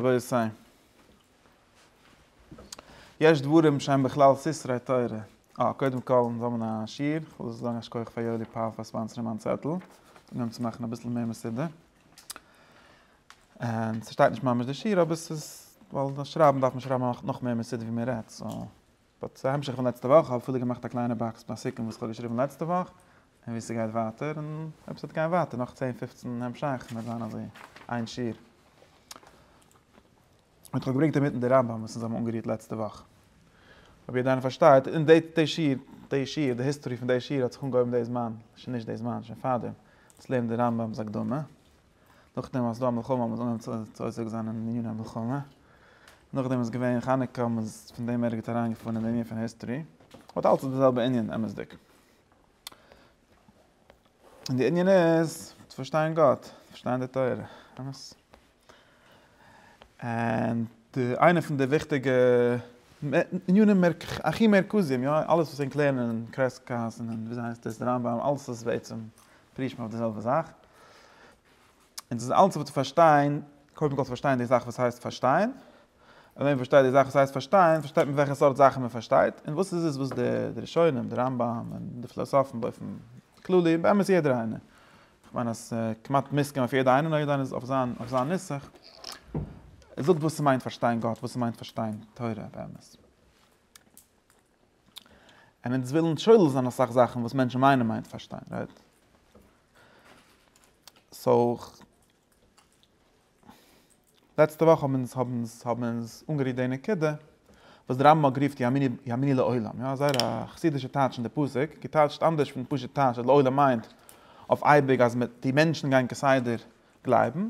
רבותי, יש דברים שהם בכלל סתרי תורה. אה, קודם כל, מיר האבן א שיעור, איך וויל זאגן א שכח פאר יואלי פאר פאר ספאנסערן מיין צעטל, און אים צו מאכן אביסל מער מסודר. און ס'שטייט נישט ממש דער שיעור, אבער ס'איז, ווייל דאס שרייבן דארף מען שרייבן נאך מער מסודר ווי מען רעדט, סאו, באט ס'איז א המשך פון לעצטע וואך, כ'האב אפילו געמאכט א קליינע באקס ביי סיכום וואס כ'האב געשריבן לעצטע וואך, און ווי ס'גייט ווייטער, און אויב ס'וועט גיין ווייטער נאך צען פופצן המשכים וועט זיין אזוי איין שיעור. און כ'האב געברענגט אינמיטן די רמב ם וואס אונז האבן אנגערירט לעצטע וואך. אויב יעדער איינער פארשטייט, און די די שיעור, די שיעור, די היסטארי פון די שיעור האט זיך אנגעהויבן די זמן, שוין נישט די זמן, שוין פארדעם, צו לערנען די רמב ם'ס הקדמה. נאכדעם אז ס'איז דא א מלחמה האבן זיי אנגעהויבן צו עוסק זיין אין עניני המלחמה, נאכדעם איז געווען חנוכה האט מען פון דעם ערגעץ אריינגעפארן אין די ענין פון היסטערי, באט אלץ איז די זעלבע ענין אמת'דיג. און די ענין איז צו פארשטיין גאט, צו פארשטיין די תורה, אמת? און די איינע פון די וויכטיגע ענינים מערק איך הכי מרכזיים יא, אלעס וואס ענק לערנען אין קרעסקאס און ווי עס הייסט דאס רמב ם אלעס איז בעצם פרישט מען אויף די זעלבע זאך. און ס'איז אלץ אבער צו פארשטיין, קודם כל צו פארשטיין די זאך וואס הייסט פארשטיין. און ווען מען פארשטייט די זאך וואס הייסט פארשטיין, פארשטייט מען וועלכע סארט זאכן מען פארשטייט, און וואס איז עס וואס די ראשונים, די רמב ם, און די פילאסאפן באופן כללי, באמת יעדער איינער, כ'מיין אז כמעט מוסכם אויף יעדער איינער, נאר יעדער איינער איז אויף זיין אויף זיין נוסח, זאגט וואס ס'מיינט פארשטיין גאט, וואס ס'מיינט פארשטיין תורה באמת. און אונז ווילן שולל זיין אסאך זאכן וואס מענטשן מיינען מיינט פארשטיין רייט? סאו לעצטע וואך האבן אונז האבן אונז האבן אונז אנגערירט די נקודה וואס די רמב ם רופט יאמיני יאמיני לעולם יא זייער א חסידישע טייטש אין די פסוק געטייטשט אנדערש פון פשוט טייטש אז לעולם מיינט אויף אייביג אז די מענטשן גייען כסדר גלייבן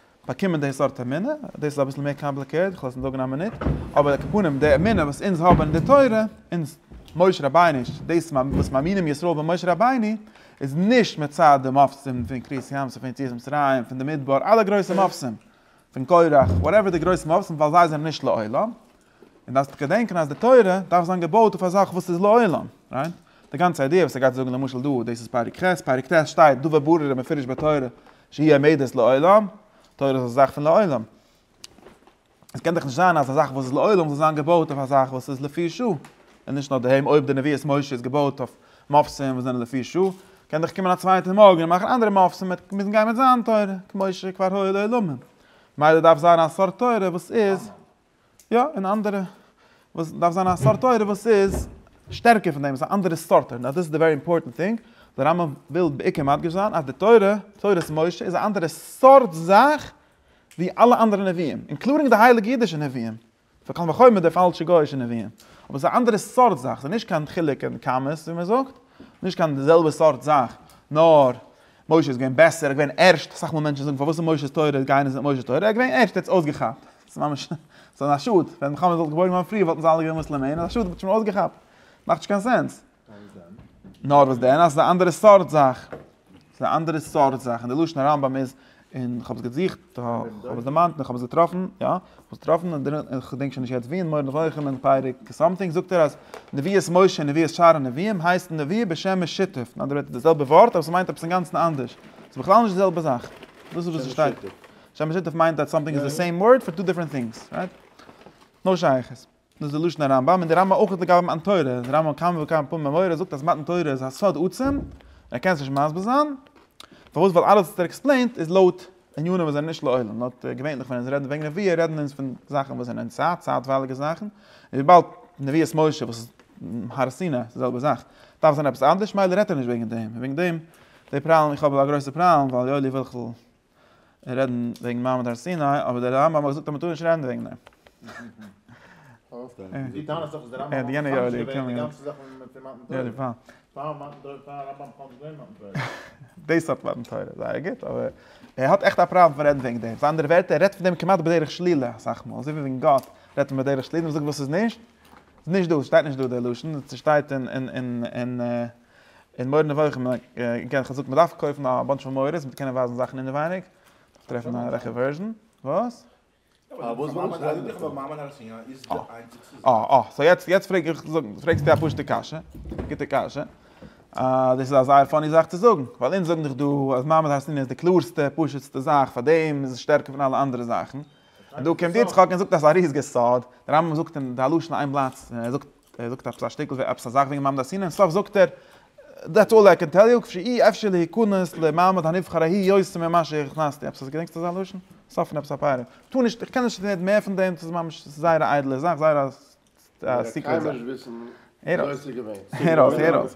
באקומען די סארט אמונה, דאס איז אביסל מער קאמפליקעט, איך לאזט עס זאגן א מינוט, אבער על כל פנים די אמונה וואס אונז האבן אין די תורה, אונז משה רבינו'ש, דאס וואס מאמינים ישראל במשה רבינו, איז נישט מצד די מופתים פון קרית ים סוף פון יציאת מצרים, פון די מדבר, אלע גרויסע מופתים, פון קורח, וואטעווער די גרויסע מופתים ווייל זיי זענען נישט לעולם, און דארפסט געדענקען אז די תורה דארף זיין געבויט אויף א זאך וואס איז לעולם, רייט? די גאנצע איידיע וואס ער גייט זאגן למשל דא, דאס איז פרק ח', פרק ט' שטייט דבר ברור ומפורש בתורה שהיא עומדת לעולם, תורה איז א זאך פון לעולם. עס קען דאך נישט זיין אז א זאך וואס איז לעולם זאל זיין געבויט אויף א זאך וואס איז לפי שעה, און נישט נאר דעם, אויב די נביאות משה איז געבויט אויף מאפסים וואס זענען לפי שעה, קען דאך קומען א צווייטער מארגן און מאכן אנדערע מאפסים, ער וועט מוזן גיין מיט זיין תורה, כמו שכבר היה לעולמים. ממילא דארף זיין א סארט תורה וואס איז. יא, און אנדערע וואס דארף זיין א סארט תורה וואס איז שטערקער פון דעם, עס איז א אנדערע סארט תורה, דאס איז די ווערי אימפארטענט טינג, די רמב ם וויל בעיקר מדגיש זיין אז די תורה, תורת משה, איז א אנדערע סארט זאך ווי אלע אנדערע נביאים, אינקלודינג די הייליגע אידישע נביאים, פון קל וחומר די פאלשע גוי'אישע נביאים, אבער עס איז א אנדערע סארט זאך, עס איז נישט קיין חילוק אין כמות ווי מען זאגט, נישט קיין די זעלבע סארט זאך, נאר משה איז געווען בעסער, ער איז געווען ערשט, אסאך מאל מענטשן זאגן פארוואס איז משה'ס תורה גייען נישט מיט משה'ס תורה, ער איז געווען ערשט, ער האט עס אויסגעכאפט. ס'איז ממש, ס'איז א שאד, ווען מוחמד וואלט געבוירן געווארן פריער וואלטן זיי אלע געווען מוסלעמען, איז א שאד, מ'האט שוין אויסגעכאפט, מאכט נישט קיין סענס. נאר וואס דען? אז ס'איז א אנדערע סארט זאך. ס'איז א אנדערע סארט זאך, און די לשון הרמב ם איז, און כ'האב עס געזוכט, כ'האב עס דערמאנט, און כ'האב עס געטראפן, יא, כ'האב עס געטראפן, און כ'געדענק שוין נישט יעצט ווי, אין מורה נבוכים אין פרק סאמטינג זאגט ער אז נביאות משה און נביאות שאר הנביאים הייסט נביא בשם משיתף, אין אנדערע ווערטער די זעלבע ווארט אבער ס'מיינט עפעס אינגאנצן אנדערש, ס'איז בכלל נישט די זעלבע זאך, דאס איז וואס ס'שטייט. שם משותף מיינט אז סאמטינג איז די סעים ווארד פאר טו דיפרענט טינגס, רייט? נאו שייכות. דאס איז לשון הרמב ם, און די רמב ם אויך האט לגבי מתן תורה, דער רמב ם כמה וכמה פעמים במורה זאגט אז מתן תורה איז א סוד עצום, ער קען עס נישט מסביר זיין, פארוואס ווייל אלעס וואס ער עקספלעינט איז לויט ענינים וואס זענען נישט לעולם, לויט געווענליך ווען אונז רעדן וועגן נביאה רעדן אונז פון זאכן וואס זענען צייט צייטווייליגע זאכן, און וויבאלד נביאת משה וואס איז הר סיני איז די זעלבע זאך, דארף זיין עפעס אנדערש מילא רעדט ער נישט וועגן דעם, און וועגן דעם די פראלעם איך האב א גרויסע פראלעם ווייל יואלי וויל כ'זאל רעדן וועגן מעמד הר סיני, אבער דער רמב ם האט געזאגט אז מען טאר נישט רעדן וועגן דעם. דו טענה'סט דאך אז דער רמב ם האט מחדש געווען די גאנצע זאך פון מתן תורה. פאר מתן תורה, פאר הרמב ם בכלל נישט געווען מתן תורה. דאס האט מתן תורה, זייער גוט, אבער ער האט עכט א פראבלעם פון רעדן וועגן דעם. אנדערע ווערטער, ער רעדט פון דעם כמעט בדרך שלילה אסאך מאל, אזוי ווי וועגן גאט רעדט מען בדרך שלילה, און זאגט וואס ס'איז נישט, ס'איז נישט דא, ס'שטייט נישט דא דער לשון, ס'שטייט אין. און מורא נבוכים און איר קענט חזקה מען דארף קויפן א באנטש פון מורות מיט קענען ווייזן זאכן אינעווייניג דארף טרעפן א רעכע ווערזשן וואס? אה אה סאו יעצט יעצט פרעג איך פרעגסט דו א פשוטע קשיא א גוטע קשיא אה דאס איז א זייער פאני זאך צו זאגן ווייל אונז זאגן דאך דא אז מעמד הר סיני איז די קלארסטע פשוט'סטע זאך פאר דעם איז עס שטערקער פון אלע אנדערע זאכן און דא קומט יצחק און זאגט אז ס'איז א ריזיגע סוד דער רמב ם זאגט אין די הלשנות איין בלאט ער זאגט ער זאגט עפעס א שטיקל ווי עפעס א זאך וועגן מעמד הר סיני אין סוף זאגט ער דעטס אלל איי קען טעל יו, כפי אי אפשר להיכנס למעמד הנבחר ההיא יותר ממה שהכנסתי, עפעס אז געדענקסט אזא לשון? אין סוף פון עפעס א פארום. טא נישט, איך קען נישט רעדן מער פון דעם, ס'איז ממש, ס'איז זייער א איידעלע זאך, זייער א סיקרעט זאך. הער אויס. הער אויס, הער אויס.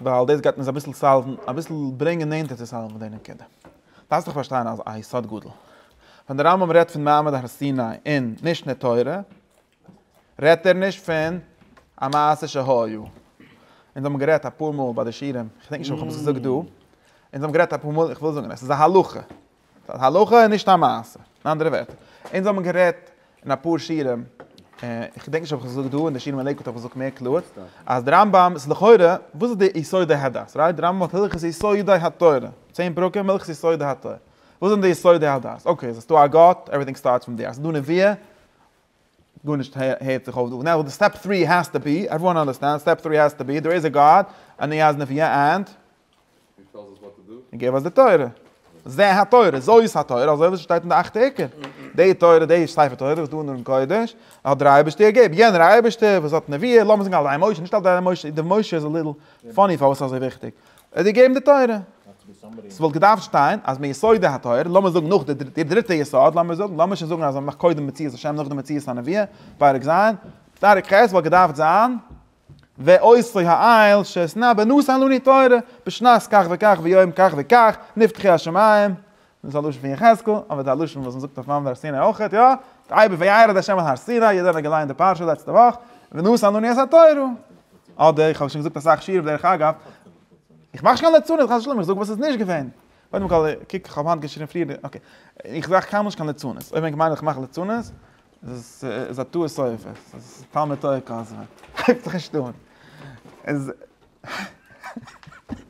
ווייל דאס גייט אונז אביסל סאלוון, אביסל ברענגען נענטער צו סאלוון די נקודה. דארפסט דאך פארשטיין א יסוד גדול. ווען דער רמב ם רעדט פון מעמד הר סיני אין משנה תורה, רעדט ער נישט פון א מעשה שהיה. אונז האבן גערעדט אפאר מאל ביי די שיעורים, כ'דענק נישט אויב כ'האב עס געזאגט דא, אונז האבן גערעדט אפאר מאל, איך וויל זאגן עס איז א הלכה. ס'איז א הלכה און נישט א מעשה. אין אנדערע ווערטער, אונז האבן גערעדט אין אפאר שיעורים, איך געדענק נישט אויב איך האב עס געזאגט דא, אין די שיעורים אין לעיקוואד האב איך עס געזאגט מער קלאר, אז די רמב ם איז לכאורה, וואס איז די יסודי הדת? רייט? די רמב ם האט הלכות יסודי התורה, צען פרקים הלכות יסודי התורה. וואס זענען די יסודי הדת? אקעי, אז עס איז דא א גאט, עוועריטינג סטארטס פרום דעיר. אז עס איז דא נביאה, גארנישט הערט זיך אויף דא, נאו די סטעפ טרי העז טו בי, עוועריוואן אנדערסטענד, סטעפ טרי העז טו בי, דער איז א גאד, און ער איז נביא ענד. און טעלס אס וואט טו דו. און געב אס די תורה. זה התורה, זוי איז התורה, אזוי ווי עס שטייט אין די אכטע עיקר. די תורה, די ספר תורה וואס דא אין ארון קודש, האט דער אייבערשטער געגעבן. יענער אייבערשטער וואס האט נביא, לאמיר זאגן על ידי משה, נישט על ידי משה, די משה איז א ליטל פאני פארוואס איז אזוי וויכטיג. ער האט געגעבן די תורה. ס'וואלט געדארפט שטיין אז מיסודי התורה, לאמיר זאגן נאך די די דריטע יסוד, לאמיר זאגן, לאמיר שוין זאגן אז מען מאכט קודם מציאות השם נאכדעם מציאות הנבואה, פרק ז', פרק ח' וואלט געדארפט זיין, ועושי העיל שאתנא בנוסח לוני תורה, בשנת כך וכך ויום כך וכך נפתחו השמים, דאס איז א לשון פון יחזקאל, אבער די לשון וואס מען זאגט אויף מעמד הר סיני אויך, יא, ויעבוד וירד ה' אל הר סיני, יעדער האט געליינט די פרשה לעצטע וואך, ונשא אנני את התורה, אדער איך האב שוין געזאגט אסאך שיעור בדרך אגב, איך מאך נישט קיין ליצנות חס ושלום, איך זאג וואס איז נישט געווען, קודם כל איך קוק איך האב היינט געשריבן פריער, אקעי, איך מאך קיינמאל נישט קיין ליצנות, אויב ענק מיינען איך מאך ליצנות, דאס איז א טעות סופר, דאס איז תלמוד תורה כז ו, הייבט זיך נישט אן.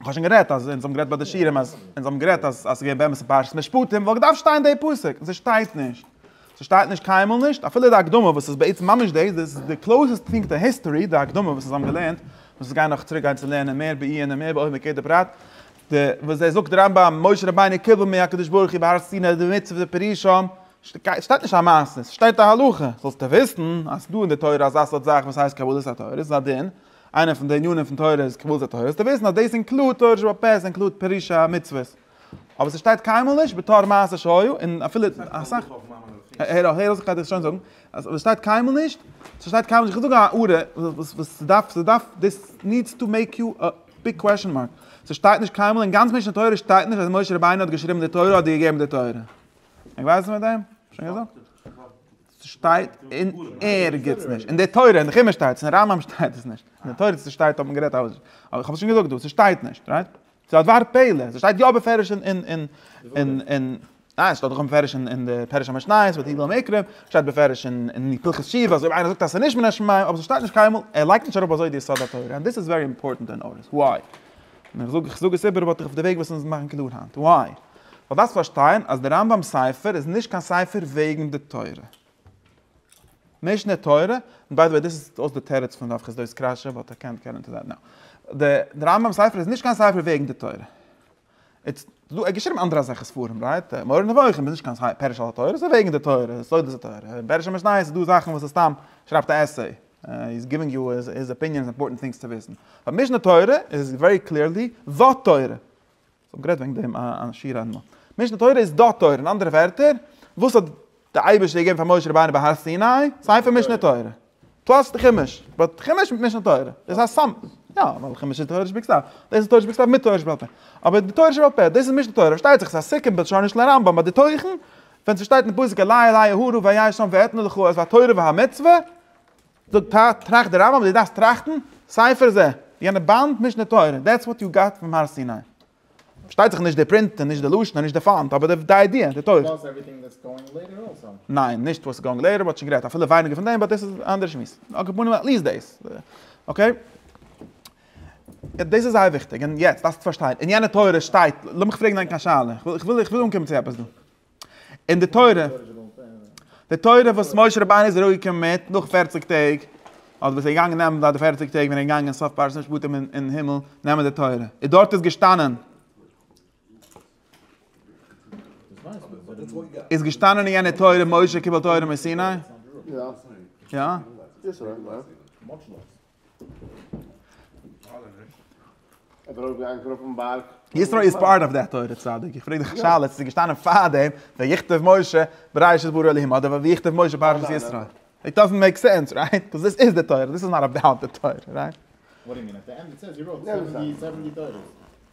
איך האב שוין גערעדט אז אונז האבן גערעדט ביי די שירים אז אונז האבן גערעדט אז אז ס'געווען באמת אין פרשת משפטים וואלט געדארפט שטיין די פסוק און ס'שטייט נישט ס'שטייט נישט קיינמאל נישט אפילו די הקדמה וואס איז בעצם ממש דאס דאס איז די קלאוסעסט טינג טו היסטארי די הקדמה וואס אונז האבן געלערנט וואס אונז גייען נאך צוריק גיין צו לערנען מער בעיון און מער בעומק יעדע פרט די וואס דער זאגט רמב ם משה רבינו קיבל מהקדוש ברוך הוא בהר סיני די מצוה די פירושים ס'שטייט נישט א מעשה ס'שטייט א הלכה זאלסטו וויסן אז ס'דא אין די תורה אזא סארט זאך וואס הייסט קבלת התורה ס'איז א דין איינע פון די ענינים פון תורה איז קבלת התורה, זאלסטו וויסן אז דאס אינקלוד תורה שבעל פה, עס אינקלוד פירושי המצוות, אבער ס'שטייט קיינמאל נישט בתור מעשה שהיו, און אפילו אסאך, הער אויף איך גיי דיר שוין זאגן, אז עס שטייט קיינמאל נישט, ס'שטייט קיינמאל נישט, איך זאג א הערה וואס וואס ס'דארף ס'דארף דיס נידס טו מעיק יו א ביג קוועשאן מארק, ס'שטייט נישט קיינמאל אין גאנץ משנה תורה שטייט נישט אז משה רבינו האט געשריבן די תורה אדער געגעבן די תורה, איך ווייס מיט דעם? שוין געזאגט. ס'שטייט אין ערגעץ נישט. אין די תורה, אין די חומש שטייט עס, אין רמב ם שטייט עס נישט. אין די תורה צו ס'שטייט האט מען גערעדט אז, אבער כ'האב עס שוין געזאגט דא, ס'שטייט נישט, רייט? ס'איז א דבר פלא, ס'שטייט יא בפירוש אין אין אין אין אין ניין ס'שטייט דאך בפירוש אין אין די פירוש המשניות ואת יגלה מקרב, ס'שטייט בפירוש אין אין די פרחי שיבה אז אויב איינער זאגט אז ס'נישט מן השמים, אבער ס'שטייט נישט קיינמאל, ער לייגט נישט אראפ אזוי די יסוד התורה, און דאס איז ווערי אימפארטענט טו נאוטיס, וויי? און איך זאג, איך זאג עס איבער ווייל תיכף די וועג וואס אונז מאכן קלאר היינט. וויי? ווייל דארפסט פארשטיין אז די רמב ם ספר איז נישט קיין ספר וועגן די תורה. משנה תורה, און ביי די וועי דאס איז אויס די תירוץ פון רב חסדאי'ס קרשע, באט איי קענט געט אינטו דעט נאו. די רמב ם ספר איז נישט קיין ספר וועגן די תורה. איטס דא, ער האט געשריבן אנדערע אזעלכע ספרים, רייט? מורה נבוכים איז נישט קיין פירוש על התורה, ס'איז וועגן די תורה, סודות התורה. פערוש'ע משניות איז דא זאכן וואס איז סתם, שרייבט א עסיי. איז גיווינג יו היז אפיניאן אימפארטענט טינגס צו וויסן. ביי משנה תורה איז ווערי קליערלי די תורה. כ'האב גערעדט וועגן דעם א שיעור אדמו ר. משנה תורה איז די תורה. אין אנדערע ווערטער, וואס האט די אייבערשטער געגעבן פאר משה רבינו ביי הר סיני? ספר משנה תורה. פלאס די חומש. באט חומש מיט משנה תורה איז א סמ. יא, ווייל חומש איז תורה שבכתב. דאס איז תורה שבכתב מיט תורה שבעל פה. אבער די תורה שבעל פה, דאס איז משנה תורה. פארשטייט זיך ס'איז א סיכום בלשונוש לרמב ם, באט די תוכן ווען ס'שטייט אין פסוק אלי' אלי' אהרע ואיה שם ואתנה לך את התורה והמצוה, זאגט ת ת, טראכט דער רמב ם, דו דארפסט טראכטן, ספר זה, יענע באנד, משנה תורה, דעטס וואט יו גאט פרום הר סיני. פארשטייט זיך נישט די פרינט און נישט די לשון און נישט די פאנט, אבער די איידיע, די תוכן. ניין, נישט וואטס גאוינג לעיטער, מען האט שוין גערעדט אפילו ווייניגער פון דעם, באט דאס איז אן אנדערע שמועס. על כל פנים, עטליסט דאס. אקעי. דאס איז זייער וויכטיג, און יעצט דארפסטו פארשטיין, אין יענע תורה שטייט, לאמיך פרעגן ענק א שאלה, איך וויל איך וויל אנקומען צו עפעס דא, אין די תורה, די תורה וואס משה רבינו איז אראפגעקומען מיט, נאך פערציג טעג, אדער וואס ער איז געגאנגען נעמען ביי די פערציג טעג ווען ער איז געגאנגען סוף פרשת משפטים אין אין הימל נעמען די תורה, איז דארט איז געשטאנען, איז געשטאנען אין יענע תורה משה קיבל תורה מסיני? יא. יתרו איז פארט אוו דעט תורה צדיק, איך פרעג דיך א שאלה, עס איז געשטאנען פאר דעם ויכתב משה בראשית ברא אלהים אדער ויכתב משה פרשת יתרו? איט דאזענט מעיק סענס רייט? קאוז דיס איז די תורה, דיס איז נאט אבאוט די תורה רייט?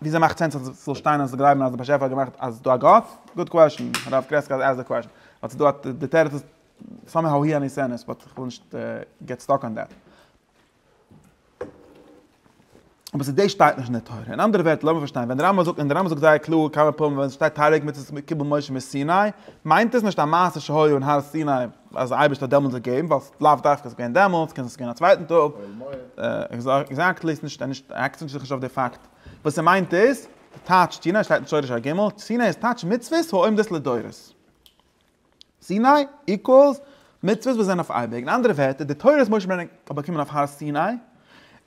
וויאזוי מאכט סענס אז ס'זאל שטיין אז גלייבן אז דער באשעפער האט געמאכט אז ס'דא א גאט? גוד קוועשן, הרב קרעסקאל עז די קוועשן, באט ס'דא א, די תירוץ איז סאמע האו הי עני סענעס, באט כ'וויל נישט געט סטאק אן דעט. אבער ס'דאס שטייט נישט אין די תורה. אין אנדערע ווערטער, לאמיר פארשטיין, ווען די רמב ם זאגט, און די רמב ם זאגט זייער קלאר כמה פעמים ווען עס שטייט תערוג מצות קיבל משה מסיני, מיינט עס נישט א מעשה שהיה אין הר סיני, אז דער אייבערשטער האט דעמאלטס געגעבן, ווייל ס'איז לאו דווקא ס'איז געווען דעמאלטס, קען זיין ס'איז געווען א צווייטן טאג, עקזעקטלי איז נישט, נישט, אקצנט איז נישט אויף די פאקט, וואס ער מיינט איז, טייטש סיני שטייט אין שורש א ג, סיני איז טייטש מצוות העומדות לדורות, סיני איקוועלס מצוות וואס זענען אויף אייביג, אין אנדערע ווערטער, די תורה וואס משה רבינו האט באקומען אויף הר סיני,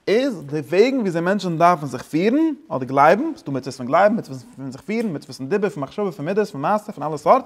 איז די וועגן ווי אזוי מענטשן דארפן זיך פירן, אדער גלייבן, ס'איז דא מצוות פון גלייבן, מצוות פון זיך פירן, מצוות פון דיבור, פון מחשבה, פון מידות, פון מעשה, פון אלע סארט,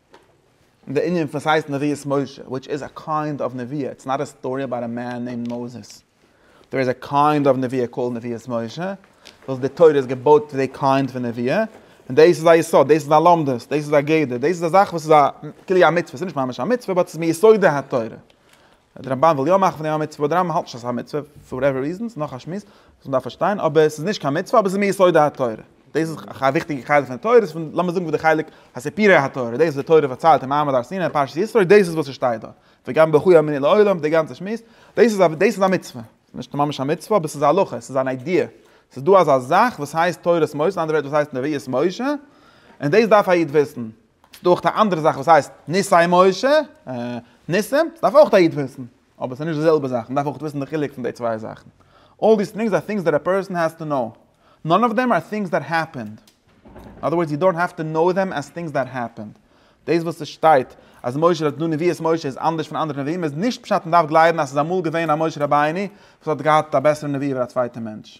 די ענין פון ס'הייסט נביאות משה וויטש איז א קיינד אוו נביאה, איטס נאט א סטארי אבאוט א מען נעימד מאוזעס, דער איז א קיינד אוו נביאה קאלד נביאות משה, וואס די תורה איז געבויט אויף די קיינד פון נביאה, און דאס איז א יסוד, דאס איז א לומדות, דאס איז א גדר, דאס איז א זאך וואס איז א כאילו א מצוה, ס'איז נישט ממש א מצוה באט ס'איז מיסודי התורה, די רמבן וויל יא מאכן פון אים א מצוה, די רמבן האלט נישט אז עס איז א מצוה, פאר וואטעווער ריזענס, נאך א שמועס וואס מען דארף פארשטיין, אבער עס איז נישט קיין מצוה, אבער עס איז מיסודות התורה, דאס איז א וויכטיגע חלק פון די תורה, ס'פון לאמיר זאגן פון די חלק הסיפורי התורה, דאס וואס די תורה פארציילט אין מעמד הר סיני פרשת ישרוי, דאס איז וואס עס שטייט דארט, וגם ברכו יאמיני לעולם, די גאנצע שמועס, דאס איז א דאס איז א מצוה, נישט ממש א מצוה, אבער עס איז א הלכה, עס איז אן איידיע, עס איז דא אזא זאך וואס הייסט תורת משה, אנדערע ווערטער וואס הייסט נביאות משה, און דאס דארף א איד וויסן, ס'איז דא אויך א אנדערע זאך וואס הייסט ניסי משה, ניסים, דארף אויך א איד וויסן, אבער ס'איז נישט די זעלבע זאך, מ'דארף אויך וויסן די חילוק פון די צוויי זאכן. אלל דיס טינגס אר טינגס דעט א פערסאן העז טו נאו. נאן אוו דעם אר טינגס דעט העפענד. אין אדער ווארדס יו דאנט העוו טו נאו דעם עז טינגס דעט העפענד. דאס וואס עס שטייט אז משה האט דא נביאות משה איז אנדערש פון אנדערע נביאים איז נישט פשט מ'דארף גלייבן אז ס'איז אמאל געווען א משה רבינו וואס האט געהאט א בעסערע נביאה ווי א צווייטע מענטש.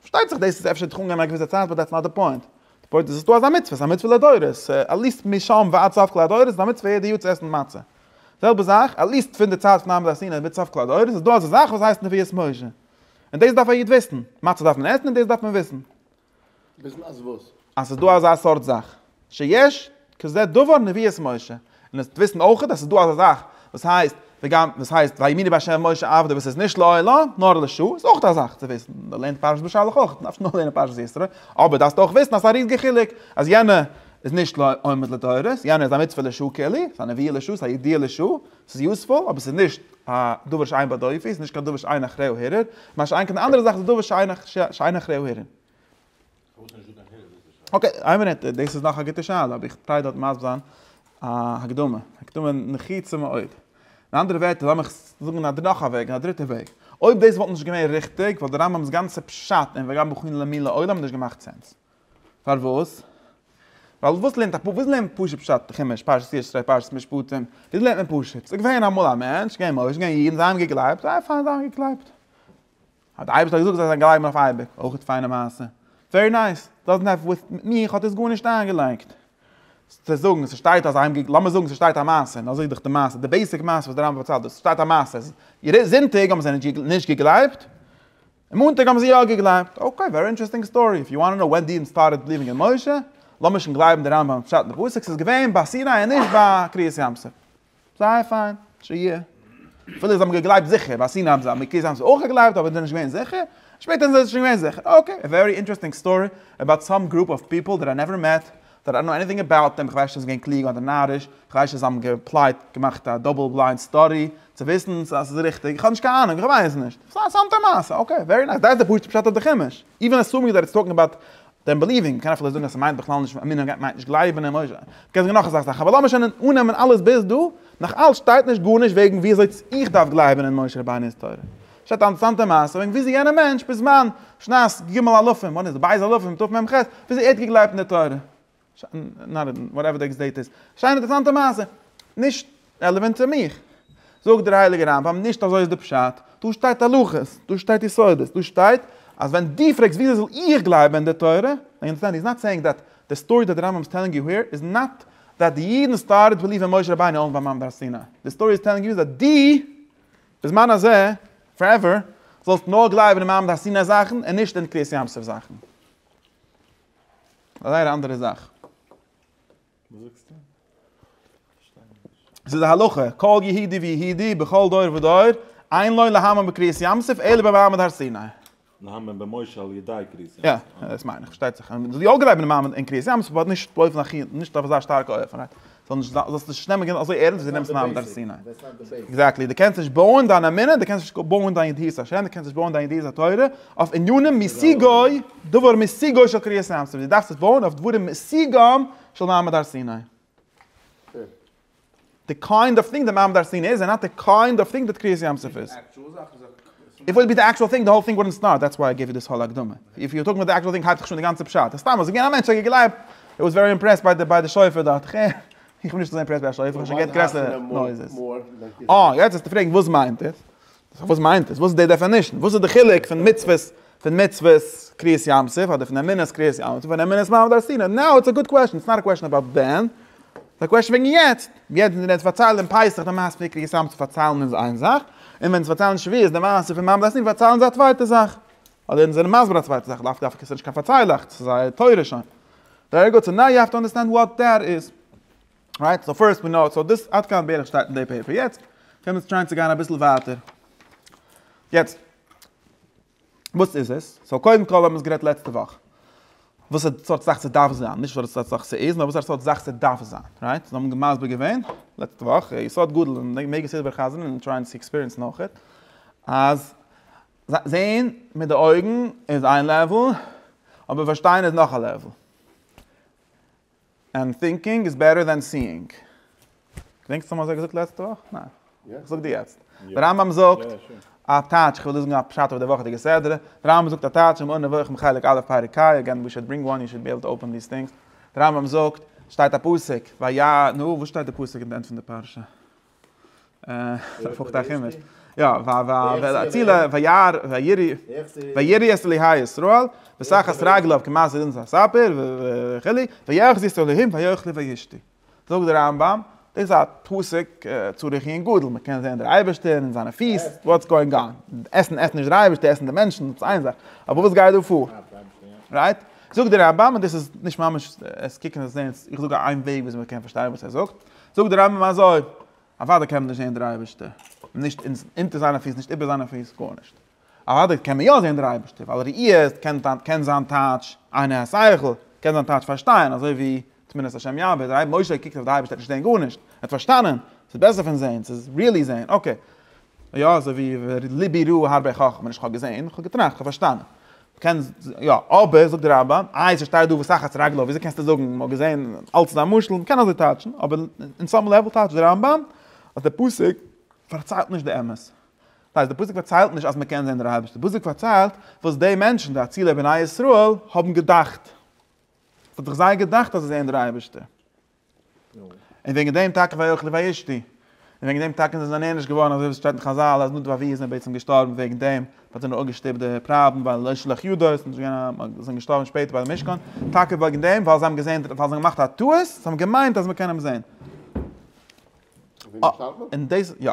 פארשטייט זיך דאס איז אפשר דורך אנגיין א געוויסע צייט באט דעטס נאט די פוינט, די פוינט איז עס איז דא אזא מצוה, עס איז א מצוה לדורות, עטליעסט משם ועד סוף כל הדורות איז א מצוה יעדע יאר צו עסן מצה, זעלבע זאך עטליעסט פון די צייט פון אברהם אבינו ביז סוף כל הדורות איז דא אזא זאך וואס הייסט נביאות משה, און דאס דארף א איד וויסן, מצה דארף מען עסן און דאס דארף מען וויסן. וויסן אז וואס? אז ס'איז דא אזא סארט זאך שיש כזה דבר נביאות משה, און עס וויסן אויכעט אז ס'איז דא אזא זאך וואס הייסט וגם וואס הייסט ויאמינו בה' משה עבדו וואס איז נישט לעילא נאר לשעה, איז אויך א זאך צו וויסן, מען לערנט פרשת בשלח אויך, דארפסט נאר לערנען פרשת ישרה, אבער דארפסטו אויך וויסן אז ס'איז א ריזיגע חילוק אז יענע איז נישט עומד לדורות, יענע איז א מצוה לשעה כליל, ס'איז א נביאה לשעה, ס'איז א ידיעה לשעה, ס'איז יוזפול, אבער ס'איז נישט א דבר שאין בדו עפי, ס'איז נישט קיין דבר שאין אחריו הירר, מה שאין כן די אנדערע זאך איז דבר שאין אחריו הירר. אקעי, איין מינוט, דאס איז נאך א גוטע שאלה, אבער איך טריי דארט מסביר זיין א הקדמה, הקדמה נחוצה מאוד. אין אנדערע ווערטער, לאמיך זאגן א נאך א וועג, א דריטע וועג. אויב דאס וואלט נישט געווען ריכטיג, וואלט די רמב ם'ס גאנצע פשט אין וגם בחולין למין לעולם נישט געמאכט סענס. פארוואס? ווייל וואס לערנט א פ, וואס לערנט מען פשוט פשט חומש, פרשת ישרי, פרשת משפטים, וואס לערנט מען פשוט? ס'איז געווען אמאל א מענטש, געווען משה, געווען אידן, זיי האבן געגלייבט, זייער פיין, זיי האבן געגלייבט. האט די אייבערשטער געזאגט זיי זאלן גלייבן אויף אייביג, אויך פיינע מעשה, ווערי נייס, דאזענט העוו וויט מיך האט עס גארנישט איינגעלייגט, צו זאגן ס'שטייט אז זיי, לאמיר זאגן ס'שטייט א מעשה, און אזוי איז דאך די מעשה, די בעיסיק מעשה וואס די רמב ם פארציילט דאס, ס'שטייט א מעשה אז זונטאג האבן זיי נישט געגלייבט, און מאנטאג האבן זיי יא געגלייבט, אקעי ווערי אינטערעסטינג סטארי, איף יו וואנט טו נאו ווען די אידן סטארטעד ביליווינג אין משה, לאמיר שוין גלייבן די רמב ם'ס פשט אין די פסוק, ס'איז געווען ביי סיני און נישט ביי קריעת ים סוף. זייער פיין, שיהיה. אפילו זיי האבן געגלייבט זיכער, ביי סיני האבן זיי, אויף קיסר האבן זיי אויך געגלייבט אבער זענען נישט געווען זיכער, שפעטער זענען זיי שוין געווען זיכער, אקעי, א ווערי אינטערעסטינג סטארי אבאוט סאם גרופ אוו פיפל דעט איי נעווער מעט, דעט איי נאו עניטינג אבאוט דעם, כ'ווייס נישט צו זיי זענען געווען קלוג אדער נאריש, כ'ווייס נישט זיי האבן געפלייט, געמאכט א דאבל בליינד סטאדי צו וויסן צו אז ס'איז ריכטיג, איך האב נישט קיין אהנונג, איך ווייס נישט, סתם סתם מעשה, אקעי, ווערי נייס, דעיס איז די פשוט'ע פשט אויף די חומש, איווען עסומינג דעט איטס טאלקינג אבאוט דען ביליווינג, מ'קען אפילו זאגן אז ס'מיינט בכלל נישט אמונה, מ'גייט מיינט נישט גלייבן אין משה. מ'קען זאגן נאך אזא זאך, אבער לאמיר שוין אננעמען אלעס ביז דא, נאך אלץ שטייט נישט גארנישט וועגן ווי אזוי איך דארף גלייבן אין משה רבינו'ס תורה. שטייט א אנטערעסאנטע מעשה וועגן ווי אזוי יענער מענטש בזמן שנת ג-א-ל-א-פ-ם, וואנעט איז ב-א-ל-א-פ-ם, תרמ ח, ווי אזוי ער האט געגלייבט אין די תורה. וואטעווער די עקס דעיט איז. שיין אינטערעסאנטע מעשה. נישט רעלעווענט צו מיך. זאגט דער הייליגער רמב ם נישט אזוי איז די פשט, דא שטייט הלכות, דא שטייט יסודות, דא שטייט אז ווען די פרעגסט וויאזוי זאל איך גלייבען אין די תורה, נאו יו אנדערסטענד הי איז נאט סעיאינג דעט די סטארי דעט די רמב ם איז טעלינג יו העיר איז נאט דעט די אידען סטארטעד ביליעוו אין משה רבינו אויך ביי מעמד הר סיני, די סטארי איז טעלינג יו איז דעט די בזמן הזה פארעווער זאלסט נאר גלייבען אין מעמד הר סיני זאכען און נישט אין קריעת ים סוף זאכען. א זייער אנדערע זאך. וואס זאגסטו? זיס א הלכה, כל יהודי ויהודי בכל דור ודור, אין לו להאמין בקריעת ים סוף אלא במעמד הר סיני. להאמין במשה על ידי קריעת ים סוף. יא, דאס מיין איך, פארשטייט זיך. יא געווען אין מעמד אין קריעת ים סוף, אבער נישט באופן הכי, נישט אויף אזא שטארקע אופן. זאלסט נישט נעמען גענוי אזוי ערענסט ווי דו נעמסט ניין דארף זיין עקזעקטלי דו קענסט נישט בויען דיין אמונה דו קענסט נישט בויען דיין ידיעת השם דו קענסט נישט בויען דיין ידיעת התורה אויף ענינים משיגוי דבר משיגוי של קריאת ים סוף דו דארפסט עס בויען אויף דברים משיגם של מעמד הר סיני די קיינד אוו טינג די מעמד הר סיני איז און נאט די קיינד אוו טינג די קריאת ים סוף איז. איף וואלט בי די עקשועל טינג די האול טינג וואלדנט סטארט דעטס וואי איי געוו יו דיס האול הקדמה איף יו טאלקינג אבאוט די עקשועל טינג הייבט זיך שוין די גאנצע פשט אז סתם אז געווען א מענטש האט געגלייבט ער וואס ווערי אימפרעסט ביי די שופר דאכט איך איך איך בין נישט אזוי אימפרעסט ביי א שופר איך האב שוין געהערט גרעסערע נויזעס אה יעצט וועסטו פרעגן וואס מיינט עס וואס מיינט עס וואס איז די דעפענישן וואס איז די חילוק פון מצוות פון מצוות קריעת ים סוף אדער פון אמונת קריעת ים סוף און אמונת מעמד הר סיני, נאו איטס א גוד קוועשן, איטס נאט א קוועשן אבאוט ווען, ס'איז א קוועשן וועגן יעצט, יעצט ווען אונז פארציילן פסח די מעשה פון קריעת ים סוף פארציילן אונז איין זאך, און ווען אונז פארציילן שביעית די מעשה פון מעמד הר סיני פארציילן זיי א צווייטע זאך, אדער אונז זענען מסביר א צווייטע זאך, לאו דווקא ס'נישט קיין פארציילעכץ, ס'איז זייער תורה שוין. ווערי גוד, סאו נאו יו האוו טו אנדערסטענד וואט דעט איז. רייט, סאו פירסט ווי נאו, סאו דאס עד כאן בערך שטייט אין די פעיפער, יעצט קען מען טרייען צו גיין אביסל ווייטער, יעצט וואס איז עס? סאו קודם כל האבן מיר עס גערעדט לעצטע וואך, וואסערע סארט זאך ס'דארף זיין, נישט וואסערע סארט זאך ס'איז, נאר וואסערע סארט זאך ס'דארף זיין, רייט? אונז האבן מסביר געווען לעצטע וואך, א יסוד גדול און מעגליך ס'איז דער חזון און טרייען צו עקספיריענסן אויך, אז זעהן מיט די אויגן איז איין לעוול, אבער פארשטיין איז נאך א לעוול. און טינקינג איז בעטער דען סיאינג. געדענקסט צו האבן אזוי געזאגט לעצטע וואך? ניין. זאג דו יעצט. דער רמב ם זאגט א טייטש, כ'וועל דא זאגן א פשט אויף די וואכעדיגע סדרה, דער רמב ם זאגט א טייטש אין מורה נבוכים חלק א' פרק כא, אגעין ווי שוד ברינג וואן יו שוד בי עבל טו אפען דיס טינגס, דער רמב ם זאגט, שטייט א פסוק, ויען, נו וואס שטייט די פסוק אין די ענד פון די פרשה? אה, פארכט א חומש. יא, ווייל ווייל אציל וירא וירא וירא את אלהי ישראל ושחת רגליו כמעשה אונס הספר וכו' ויחזיס אלהים ויאכל וישתה. זאגט דער רמב ם, דאס איז א פסוק צורת עיון גדול, מען קען זען דער אייבערשטער אין זיינע פיס, וואטס גאואינג אן? עסן עסט נישט דער אייבערשטער, עסן די מענטשן, דאס איז איין זאך, אבער וואס גייט דא פאר? רייט? זאגט דער רמב ם, און דאס איז נישט ממש עס קוקן עס זען, איך זאג איין וועג וויאזוי מען קען פארשטיין וואס ער זאגט, זאגט דער רמב ם אזוי, אוודאי קען מען נישט זען דער אייבערשטער, נישט אונטער זיינע פיס, נישט איבער זיינע פיס, גארנישט. אוודאי קען מען יא זען דער אייבערשטער, ווייל ראי' איז, קען זיין טייטש עיני השכל, קען זיין טייטש פארשטיין, אזוי ווי תמונת השם יעבור, דער אייבער משה קוקט אויף די אייבערשטער האט נישט געזען גארנישט, ער האט פארשטאנען, ס'איז בעסער פון זען, ס'איז ריעלי זען, אקעי. יא אזוי ווי ליבי ראה הרבה חכמה, נישט כ'האב געזען, כ'האב געטראכט, כ'האב פארשטאנען. קען יא, אבער זאגט די רמב ם, איי ס'איז שטייט דא וסחת רגלו, וויאזוי קענסטו זאגן, מ'האט געזען, אלץ איז א משל, מ'קען אזוי טייטשן, אבער אין סאם לעוועל טייטשט די רמב ם אז די פסוק פארציילט נישט די אמת. דאס הייסט די פסוק פארציילט נישט אז מ'קען זען דער אייבערשטער, די פסוק פארציילט וואס די מענטשן, די אצילי בני ישראל, האבן געדאכט. ס'האט זיך זיי געדאכט אז זיי זעען דער אייבערשטער. און וועגן דעם טאקע ויאכלו וישתו, און וועגן דעם טאקע זענען זיי נענש געווארן, אזוי ווי עס שטייט אין חזל אז נדב אבי איז בעצם געשטארבן וועגן דעם, מען האט אים אפגעשטופט די פריידן ווייל לא שלח ידו, עס איז נישט געווען א, מען איז אים געשטארבן שפעטער ביי די משכן, טאקע וועגן דעם ווייל זיי האבן געזען, ווייל זיי האבן געמאכט א טעות, זיי האבן געמיינט אז מען קען אים זען. און דאס, יא.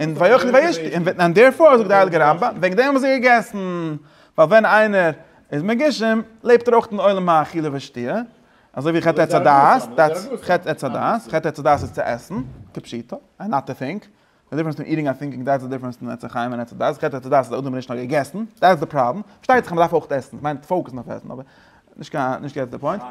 און ויאכל וישתה, און ווען דערפאר זאגט דער הייליגער רמב ם, וועגן דעם האבן זיי געגעסן, ווייל ווען איינער איז מגושם לעבט ער אויך אין עולם האכילה והשתיה, אזוי ווי חטא עץ הדעת, דעטס חטא עץ הדעת, חטא עץ הדעת איז צו עסן, כפשוטו, און נאט טו טינק, די דיפרענס פון איטינג און טינקינג דעטס די דיפרענס פון עץ החיים און עץ הדעת, חטא עץ הדעת איז אדם האט נישט נאר געגעסן, דעטס די פראבלעם, פארשטייט זיך אז מען דארף אויך עסן, איך מיין פאוקעסן אויף עסן, אבער. נישט קיין נישט געטס די פוינט.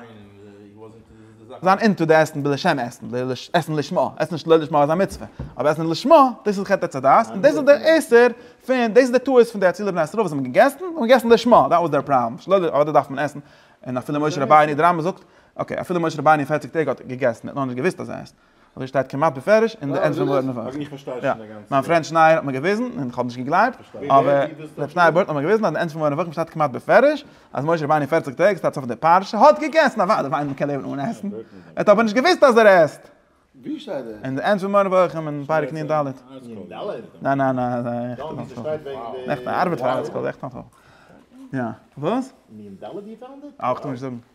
זיין אינטו די עסן בלשם עסן, עסן לשמה, עסן נישט לא לשמה איז א מצוה, אבער עסן לשמה דאס איז חטא עץ הדעת, און דאס איז דער איסור פון, דאס איז די טעות פון די אצילע בני ישראל וואס האבן געגעסן, זיי האבן געגעסן לשמה, דאט וואס דער פראבלעם, נישט לא, אדער דארף מען עסן, און אפילו משה רבינו, די רמבם זאגט, אקעי, אפילו משה רבינו פֿערציק טעג האט געגעסן, ער האט נאכנישט געוואוסט אז ער עסט. אזוי שטייט כמעט בפירוש אין די ענד פון ווארט נפש. מיין פרענד שנייער האט מיר געוויזן און כ'האב נישט געגלייבט, אבער רב שנייער בער האט נאכאמאל געוויזן אז אין ענד פון ווארט נפש שטייט כמעט בפירוש אז משה רבינו פערציג טעג ס'טייטש אויף די פרשה האט געגעסן, אוודאי ווייל איינער קען לעבן אן עסן, ער האט אבער נישט געוויסט אז ער עסט. אין די ענד פון מורה נבוכים אין פרק נ ד. ניין ניין ניין. עכט א ארבעט פאר ארטסקרול. עכט א. יא. וואס? נ ד?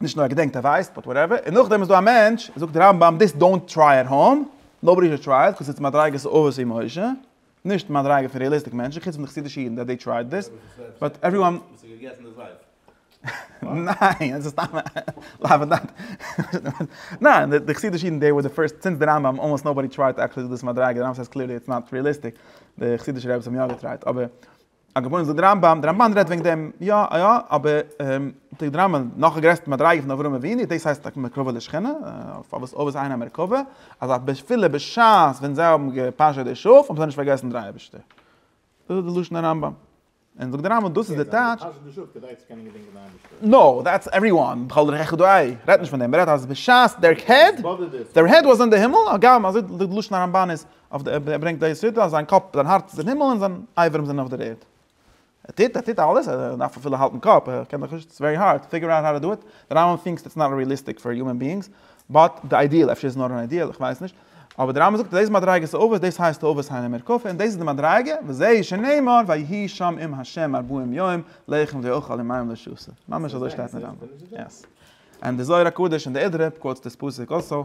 נישט נאר ער געדענקט ער ווייסט, באט וואטעווער, און נאכדעם איז דא א מענטש, זאגט דער רמב ם, דיס דאונט טריי עט האום, נאובאדי שוד טריי איט, קאוז איטס מדריגת אבות און משה, נישט מדריגה פון ריעליסטיק מענטשן, חוץ פון די חסידישע אידן דעט דעי טרייד דיס, באט עווריוואן. וואס האט געגעסן די זייף? ניין, עס איז סתם א לאווענדאנט. ניין, די חסידישע אידן דעי ווער די פירסט, סינס די רמב ם, אלמאסט נאובאדי טרייד עקשעלי דו דאס מדריגה, די רמב ם סעיז קליערלי איטס נאט ריעליסטיק, די חסידישע רעבעס האבן יא געטרייט, אבער. א גאון זאגט דער רמב ם, דער רמבן רעדט וועגן דעם, יא יא, אבער זאגט דער רמב ם, נאך א גרעסטע מדריגה פון אברהם אבינו, דאס הייסט טאקע מקרבה לשכינה, פארוואס אבות אהרן א מרכבה, אז אפילו בשעת ווען זיי האבן געפאשעט די שאף האבן זיי נישט פארגעסן דער אייבערשטער. דאס איז די לשון הרמב ם. און זאגט דער רמב ם, דאס איז די טייטש, נאו, דעטס עווריוואן, בכל דרכיך דאהי, רעדט נישט פון דעם, רעדט אז בשעת דער העד, דער העד וואס אין די הימל, הגם אזוי די לשון הרמב ן איז אויף די ערד, ער ברענגט די יסודות, זיין קאפ, זיין הארץ איז אין הימל און זיין אייברים זענען אויף דער ערד. ער טוט, ער טוט אלעס, ער דארף אפילו האלטן קאפ, ער קען דאך נישט, איטס ווערי הארד, פיגור אוט האו טו דו איט, די רמב ם טינקס איטס נאט ריעליסטיק פאר יומען ביאינגס, באט די איידיעל, אפשר איז נאר אן איידיעל, איך ווייס נישט, אבער די רמב ם זאגט אז דאס איז מדריגת אבות, דאס הייסט אבות היינו מרקפו, און דאס איז די מדריגה, וזה שנאמר ויהי שם עם ה' ארבעים יום, לחם ואוכל עם מים לשסה, ממש אזוי שטייט אין רמב ם, יעס. און די זוהר הקדוש און די אידרא קוואוטס דאס פסוק אלסאו.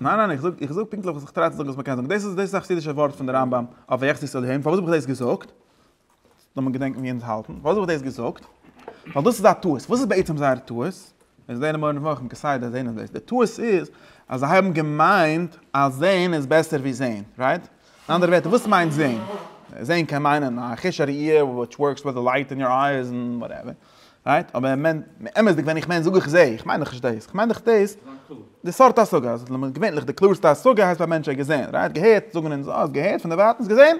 ניין ניין איך זאג איך זאג פונקטליך וואס איך טריי צו זאגן וואס מען קען זאגן דאס איז דאס איז א חסידישע ווארט פון די רמב ם אויף ויחצי ישראל העם פארוואס האב איך דאס געזאגט לאז מיר געדענקן ווי אונז האלטן פארוואס האב איך דאס געזאגט ווייל דאס איז א טעות וואס איז בעצם זייער טעות מיר זענען מורה נבוכים כסדר זעהן אונז דאס די טעות איז אז זיי האבן געמיינט אז זעהן איז בעסער ווי זעהן רייט אין אנדערע ווערטער וואס מיינט זעהן זעהן קען מיינען א חוש הראייה וויטש ווארקס וויט די לייט אין יור אייז און וואטעווער רייט? אבער ער מיינט, אמת'דיג ווען איך מיין זאג איך זע, איך מיין דאך נישט דאס, איך מיין דאך דאס, די סארט השגה, אז למה געווענליך די קלארסטע השגה הייסט ביי מענטשן געזען, רייט? געהערט זאגן אונז, אה, האסט געהערט? פון דערווייטענס געזען?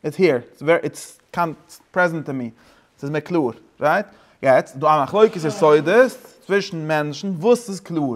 איטס העיר, איטס קאמס פרעזענט טו מי, ס'איז מיר קלאר, רייט? יעצט, דא א מחלוקת יסודות צווישן מענטשן, וואס איז קלאר?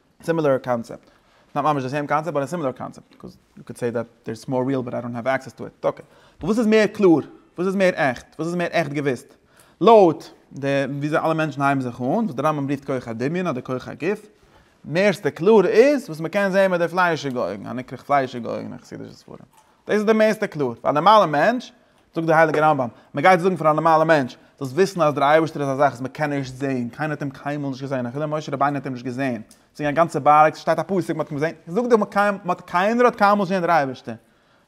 סימילער קאנצעפט, נאט ממש די סעים קאנצעפט באט א סימילער קאנצעפט, קאוז יו קען סעי דעט דער איז מאר ריעל באט איי דאנט האוו עקסעס טו איט, אקעי, אבער וואס איז מער קלאר? וואס איז מער עכט? וואס איז מער עכט געוויסט? לויט די וויאזוי אלע מענטשן הייבן זיך אן, וואס דער רמב ם רופט כח הדמיון אדער כח הגוף, מערסטע קלאר איז וואס מען קען זען מיט די פליישיגע אויגן, הנקרא פליישיגע אויגן אין חסידישע ספרים. דאס איז די מערסטע קלאר, פאר א נארמאלע מענטש, זאגט דער הייליגער רמב ם, מען גייט זאגן פאר א נארמאלער מענטש, זאלסט וויסן אז דער אייבערשטער איז א זאך וואס מען קען נישט זען, קיינער האט אים קיינמאל נישט געזען, אפילו משה רבינו האט אים נישט געזען, זינגען א גאנצע בארג, ס'שטייט א פסוק מען האט אים געזען, זאג דו מיר, קיינער האט קיינמאל נישט געזען דער אייבערשטער,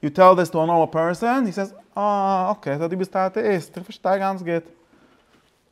יו טעל דיס טו א נארמאל פערסאן, הי סעיס, אה, אקעי, סא דו ביסט א אטעאיסט, איך פארשטיי גאנץ גוט.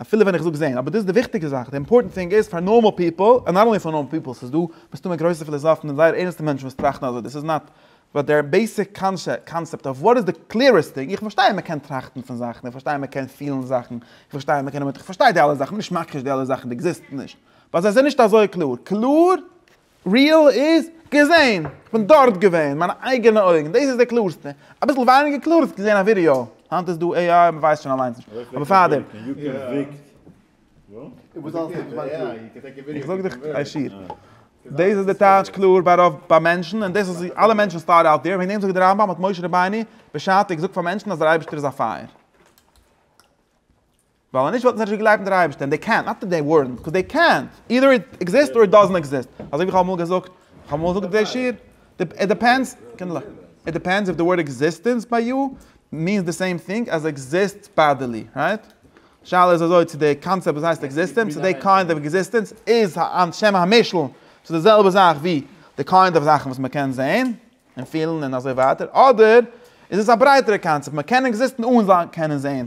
אפילו ווען איך זאג זעהן, אבער דאס איז די וויכטיגע זאך, די אימפארטענט טינג איז פאר נארמאל פיפל, און נאט אנלי פאר נארמאל פיפל, ס'איז דא מסתמא גרויסע פיליזאפן און זייער ערנסטע מענטשן וואס טראכטן אזוי, דאס איז נאט, באט דער בעיסיק קאנצעפט אוו וואט איז די קליערעסט טינג, איך פארשטיי אז מען קען טראכטן פון זאכן, איך פארשטיי אז מען קען פילן זאכן, איך פארשטיי אז מען קען, איך פארשטיי די אלע זאכן, נישט מכחיש די אלע זאכן, די עקזיסטן נישט, באט זיי זענען נישט אזוי קלאר, קלאר? ריעל איז, געזען! כ'בין דארט געווען! מיינע אייגענע אויגן! דאס איז די קלארסטע! אביסל ווייניגער קלאר וואלסטו געזען א ווידיאו. היינט איז דא AI מ'ווייסט שוין אליינס נישט. אבער פארדעם. איך זאג דיך הישיר. דאס איז די טייטש קלאר ביי רוב ביי מענטשן און דאס איז אלע מענטשן'ס סטאדי אוט דעיר. וועגן דעם זאגט דער רמב ם האט משה רבינו בשעתו געזאגט פאר מענטשן אז דער אייבערשטער איז א פייער. ווייל אנישט וואלטן זיי נישט געגלייבט אין דער אייבערשטער, און דעי קענט נאט דעי ווארענט, קאוז דעי קענט, אידער איט עקזיסט אר איט דאזענט עקזיסט, אזוי ווי איך האב אמאל געזאגט, איך האב אמאל געזאגט דעי שיר, איט דיפענדס, קינדערלעך, איט דיפענדס איף די ווארד עקזיסטענס ביי יו מיענס די סעים טינג עז עקזיסט באדעלי, רייט? די שאלה איז אזוי, צו דעי קאנצעפט וואס הייסט עקזיסטענס, צו דעי קיינד אוו עקזיסטענס איז היינט שם המשל צו די זעלבע זאך ווי די קיינד אוו זאכן וואס מען קען זעהן און פילן און אזוי ווייטער, אדער איז עס א ברייטערע קאנצעפט, מען קען עקזיסטן אן זיין קענען זעהן.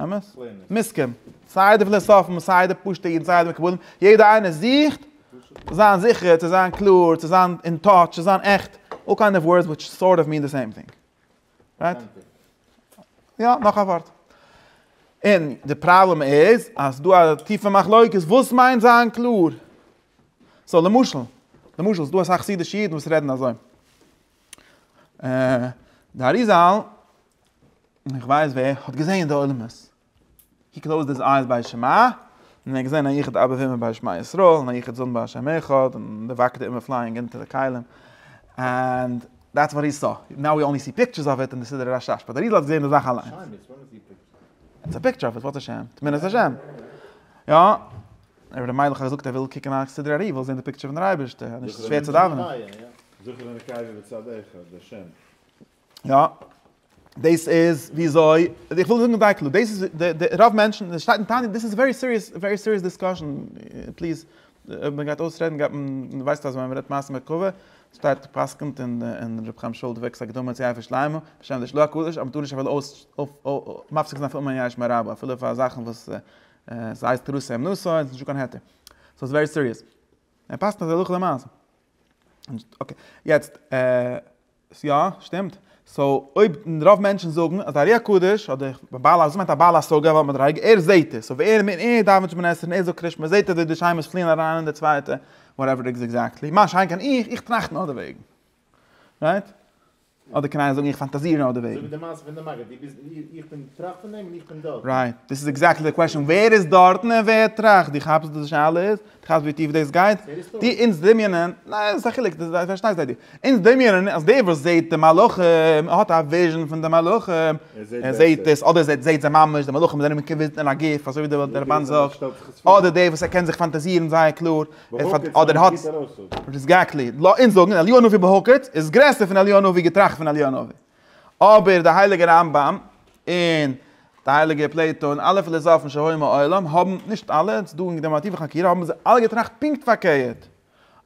אמת? מסכים. סיי די פילאסאפן און סיי די פשוטע אידן סיי די מקובלים, יעדער איינער זוכט צו זיין זיכער, צו זיין קלאר, צו זיין אין טאטש, צו זיין עכט, אלל קיינד אוו ווארדס וויטש סארט אוו מין די סעים טינג. רייט? יא, נאך א ווארט. און די פראבלעם איז אז ס'דא א טיפע מחלוקת וואס מיינט זיין קלאר. סאו למשל, למשל ס'דא אסאך חסידישע אידן וואס רעדן אזוי. די אריזאל און איך ווייס ווער האט געזעהן די עולמות. הי קלאוזד היז אייז ביי שמע, און ער האט געזעהן א יחיד אבא ואמא ביי שמע ישראל, און א יחיד זון ביי השם אחד, און די וואקעט אימער פלייאינג אונטער די כלים, ענד דעטס וואט הי סא. נאו ווי אנלי סי פיקטשערס אוו איט אין די סידור הרשש, באט די רידל האט געזעהן די זאך אליינס. איטס א פיקטשער אוו איט, וואטס א שם? תמונת השם. יא, אבער די מיידלעך האט געזאגט ער וויל קוקען א סידור ארי וויל זעהן די פיקטשער פון דער אייבערשטער, נישט שווער צו דאווענען. יא, דאס איז וויאזוי, איך וויל זאגן זייער קלאר, דאס איז די רוב מענטשן, עס שטייט אין תניא, דאס איז ווערי סיריעס, ווערי סיריעס דיסקאשען, פליז, אויב מען גייט אויסרעדן גייט מען, מען ווייסט אז ווען מען רעדט מעשים בקובה, שטייט גע'פסק'נט אין אין ר' חיים שולדבעק'ס הקדמה צו יפה שלמה, בשם די שלא הקדוש אז מען טאר נישט אפילו אויס אויס מפסיק זיין פון אומאן יש מאין רבא, אפילו פאר זאכן וואס עס הייסט תרוסי אמנותא און עס איז נישטא קיין היתר. סאו עס איז ווערי סיריעס. ער פסק'נט אזוי הלכה למעשה. און אקעי, יעצט, ס יא, שטימט. סאו אויב רוב מענטשן זאגן אז א רוח קודש אדער א בעל השגה מיינט א בעל השגה ווייל מיט רייג ער זעהט עס סאו ווער מער ער דאווענט שמונה עשרה און ער זאגט קרישמע זעהט ער ווי די נשמות פליען אריין אין די צווייטע וואטעווער איז עקזעקטלי מה שאין כן איך איך טראכט נאר דערוועגן רייט? אדער קען איינער זאגן איך פאנטאזיר נאר דערוועגן. אזוי ווי די מעשה פון די מגיד דו ביסט איך בין איך טראכט פון דעם און איך בין דארטן. רייט, דאס איז עקזעקטלי די קוועשאן ווער איז דארטן און ווער טראכט דו כאפסט וואס די שאלה איז? כאפסט ווי טיף דאס גייט? די אונז דמיונען, ניין עס איז א חילוק, די פארשטייסט זיידי, אונז דמיונען אז דער וואס זעהט די מלאכים, ער האט א וויזשען פון די מלאכים, ער זעהט עס, אדער ער זעהט זיי ממש, די מלאכים זענען געוויזן אין א גוף, אזוי ווי דער רמבן זאגט, אדער דער וואס ער קען זיך פאנטאזירן זייער קלאר, אדער ער האט, עקזעקטלי, לאמיר אונז זאגן, אליהו הנביא בהוקץ איז גרעסער פון אליהו הנביא געטראכט פון אליהו הנביא. אבער דער הייליגער רמב ם און דער הייליגער פלעיטא און אלע פילאזאפן שהיו מעולם האבן, נישט אלע, ס'איז דא אינגדערמאטיווע חקירה, האבן זיי אלע געטראכט פונקט פארקערט,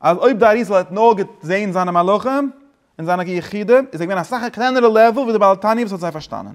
אז אויב דער אריז ל האט נאר געזען זיינע מלאכים און זיינע יחידים, איז ער געווען אסאך א קלענערע לעוועל ווי דער בעל תניא וואס האט זיי פארשטאנען.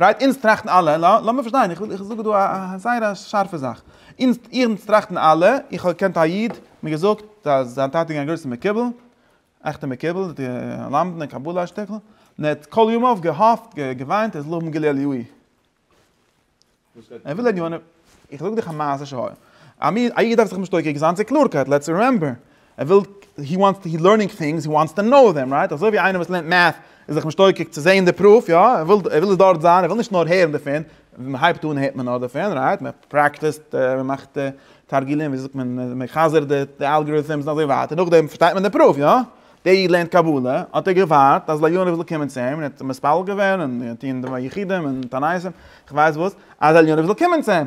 רייט, אונז טראכטן אלע, לאמיר פארשטיין, איך וויל זאגן דא א זייער א שארפע זאך, אונז אונז טראכטן אלע, איך האב געקענט א איד, מיר געזאגט אז זיין טאטע איז געווען א גרויסע מקובל, א עכטע מקובל, למדן אין קבלה א שטיקל, און ער האט כל ימיו געהאפט, געוויינט אז לא מגלה לי הוא. איך זאג דיך א מעשה שהיה, א איד דארף זיך משתוקק זיין צו קלארקייט, לעטס רימעמבער, ער וויל, הי וואנטס טו, הי לערנינג טינגס, הי וואנטס טו נאו דעם, רייט? אזוי ווי איינער וואס לערנט מעטס איז זיך משתוקק צו זעהן די פרוף, יא? ער וויל, ער וויל עס דארט זיין, ער וויל נישט נאר הערן דערפון, ווען מען הייבט אן הערט מען נאר דערפון, רייט? מען פרעקטיסט, מען מאכט תרגילים, ווי זאגט מען, מען חזר'ט די אלגאריטעמס און אזוי ווייטער, נאכדעם פארשטייט מען די פרוף, יא? דעי לערנט קבלה, האט ער געווארט אז עליונים זאל קומען צו אים, און ער האט מתפלל געווען, און געטון יחידים און תנאים, איך ווייס וואס, אז עליונים זאל קומען צו אים.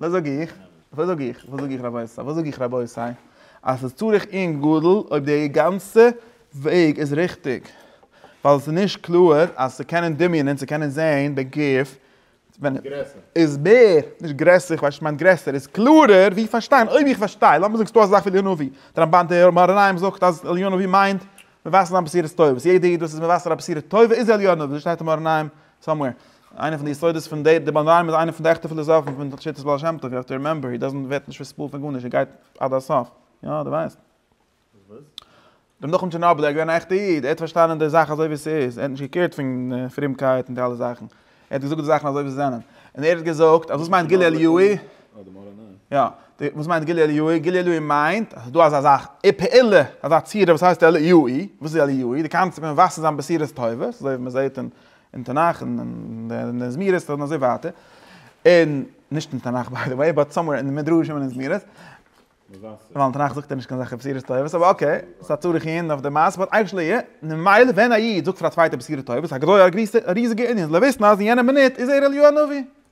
וואס זאג איך? וואס זאג איך? וואס זאג איך רבותי? וואס זאג איך רבותי? אז ס'איז צריך עונג גדול אויב די גאנצע וועג איז ריכטיג, ווייל ס'איז נישט קלאר אז צו קענען דמיונ'ען, צו קענען זעהן בגוף, איז מער, נישט גרעסער, איך ווייס נישט צו מ'מיינט גרעסער, איז קלארער ווי פארשטיין, אויב איך פארשטיי, לאמיר זאגסטו אזא זאך ווי עליון עובי, די רמבן, די מהר א ריימס זאגט אז עליון עובי מיינט מבשר אן בשירות טובות, יעדע איד וואס איז מבשר א בשירות טובה איז עליון עובי, אזוי שטייט אין מהר א, סאמווער. איינע פון די יסודות פון די די באנדיימער איז איינע פון די עכטע פילאזאפן פון שיטת בעל שם טוב, יו העוו טו רימעמבער הי דאזענט ווערט נישט פארספאלט פון גארנישט, ער גייט עד הסוף. יא, דו ווייסט. דעם נחום טשערנאבלער, ער איז געווען א עכטע איד, ער האט פארשטאנען די זאך אזוי ווי ס'איז, ער האט נישט געקערט פון פרומקייט און די אלע זאכן, ער האט געזאגט די זאכן אזוי ווי זיי זענען. און ער האט געזאגט אז וואס מיינט גילוי עליוהי? יא, וואס מיינט גילוי עליוהי? גילוי עליוהי מיינט אז ס'איז דא אזא זאך, א פעולה, אזא צורה וואס הייסט עליוהי. וואס איז עליוהי? די קאנצעפט פון וואסער זיין בשירות טובות, אזוי ווי מ'זעט אין. אין תנך און אין די זמירות און אזוי ווייטער, און נישט אין תנך ביי די וועי באט סאמווער אין די מדרשים און אין זמירות, ווייל אין תנך זאגט ער נישט קיין זאך בשירות טובות אבער אקעי ס'איז א צרות אי און אויף די מעשה באט אייוועלט יא און ממילא ווען א איד זאגט פאר א צווייטער בשירות טובות א גדול א ריזיגע ענין לוויסן אז אין יענע מינוט איז ער אליהו הנביא.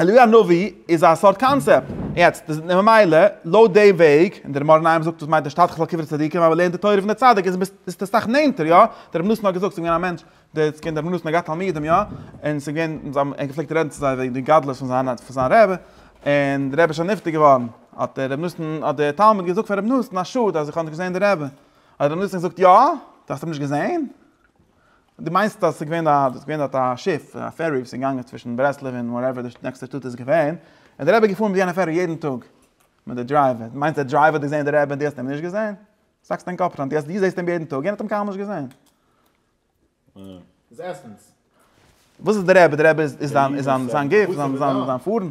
אליהו הנביא איז א סארט קאנצעפט. יעצט, ממילא, לויט די וועג, און דער מאור נעים זאגט וואס מיינט נישט תתחח על קברי צדיקים אבער לערן די תורה פון די צדיק איז ביסט די סאך נענטער, יא? דער רבי נתן האט געזאגט ס'איז געווען א מענטש, די צ ק און דער רבי נתן האט געהאט תלמידים, יא? און ס'איז געווען, זיי האבן, ער האט געפלעגט רעדן צו זיי וועגן די גדלות פון זיין, פון זיין רבי, און דער רבי איז שוין נפטר געווארן, האט דער רבי נתן, האט דער תלמיד געזאגט פאר רבי נתן, א שאד אז איך האב נישט געזען די רבי. האט דער רבי נתן געזאגט, יא? דו האסט אים נישט געזען? דו מיינסט אז עס איז געווען דארט, דארט איז געווען דארט א שיף, א פערי וואס איז געגאנגען צווישן ברסלב און וואטעווער די נעקסטע שטאט איז געווען, און דער רבי איז געפארן מיט יענע פערי יעדן טאג מיט די דרייווער, דו מיינסט דער דרייווער האט געזען דער רבי און דו האסט אים נישט געזען? דו האקסט דיין קאפ פארן דו זעסט אים יעדן טאג, יענער האט אים קיינמאל נישט געזען. וואס איז דער רבי? דער רבי איז זיין גוף, זיין פארן.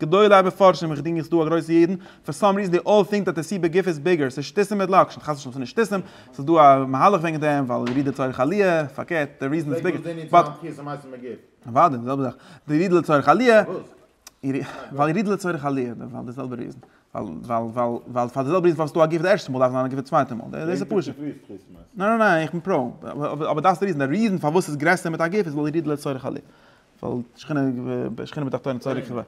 גדולי המפרשים איך דינג איך דא א גרויסע ידען, פאר סאם ריזען דעי אלל טינק דעט די סי בגוף איז ביגער, סאיז שטותים מיט לאקשן, חס ושלום סאיז נישט שטותים, סאיז דא א מהלך וועגן דעם, ווייל די רידער צורך עליה, פארקערט די ריזען איז ביגער, באט. אוודאי די זעלבע זאך, די רידער לצורך עליה, ווייל די רידער לצורך עליה, ווייל די זעלבע ריזען, ווייל פאר די זעלבע ריזען פאר וואס סדא א גוף די ערשטע מאל דארף זיין א גוף די צווייטע מאל, דעס איז פשוט, ניין ניין איך בין פראו, אבער דאס די ריזען, די ריזען פארוואס סאיז גרעסער מיט א גוף איז ווייל די רידער לצורך עליה. ווייל שכינה שכינה בתחתון צורי כ ו.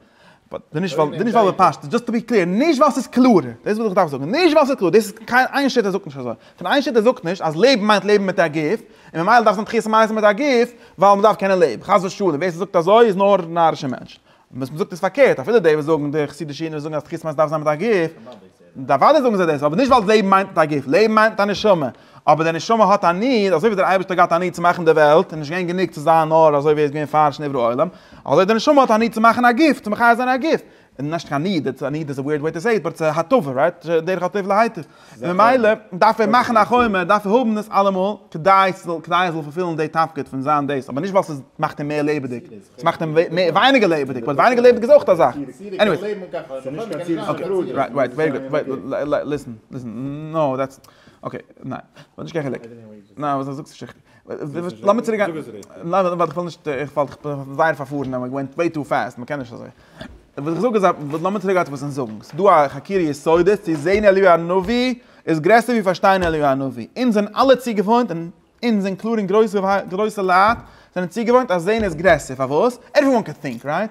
די נישט ווייל די נישט ווייל בפשט דזשאסט טו בי קלעיר נישט ווייל ס'איז קלאר דאס וואס איך דארף זאגן נישט ווייל ס'איז קלאר דאס איז קיין איין שו ת זאגט נישט אזוי פון איין שו ת זאגט נישט אז לעבן מיינט לעבן מיט א גוף און ממילא דארף זיין תחיית המתים מיט א גוף ווייל מ'דארף קענען לעבן חס ושלום ווער ס'זאגט אזוי איז נאר נארישע מענטשן וואס מ'זאגט איז פארקערט אפילו די וואס זאגן די חסידישע אידן וואס זאגן אז תחיית המתים דארף זיין מיט א גוף די אוודאי זאגן זיי דאס אבער נישט ווייל לעבן מיינט מיט א גוף לעבן מיינט מיט א נשמה אבער דער נשמה האט א ניד, אזוי ווי דער אייבערשטער האט געהאט א ניד צו מאכן די וועלט, איז נישט געווען גענוג צו זיין נאר אזוי ווי ער איז געווען פאר שנברא עולם, אזוי דער נשמה האט א ניד צו מאכן א גוף, צו מחיה זיין א גוף, נישט קיין ניד, א ניד איז א וויערד וועי טו סעי איט, באט ס'איז הטבה, רייט? דרך הטוב להיטיב. ממילא דארף ער מאכן א חומה, דארף ער האבן דאס אלעמאל, כדי ס'זאל פולפילן די תפקיד פון זיין דאס, אבער נישט ווייל ס'מאכט אים מער לעבעדיג, ס'מאכט אים ווייניגער לעבעדיג, באט ווייניגער לעבעדיג איז אויך א זאך, עניוועיס. אקעי, רייט, רייט, ווערי גוד, ליסן, ליסן, נאו דעטס. אקעי, ניין, ס'האט נישט קיין חילוק. ניין, וואס זאגסטו שיכטי? לאמיר צוריק גיין. ניין, ווייל איך וויל נישט, איך וואלט איך בין זייער פארפארן, איך ווענט וועי טו פעסט, מ'קען נישט אזוי. וואס איך זאג איז, לאמיר צוריק גיין צו וואס אונז זאגן. ס'איז דא א חקירה יסודית צו זעהן אליהו הנביא איז גרעסער ווי פארשטיין אליהו הנביא. אונז זענען אלע צוגעוואוינט, און אונז אין קלאר און גרויסע גרויסע לייט זענען צוגעוואוינט אז זעהן איז גרעסער. פארוואס? עוועריוואן קען טינק, רייט?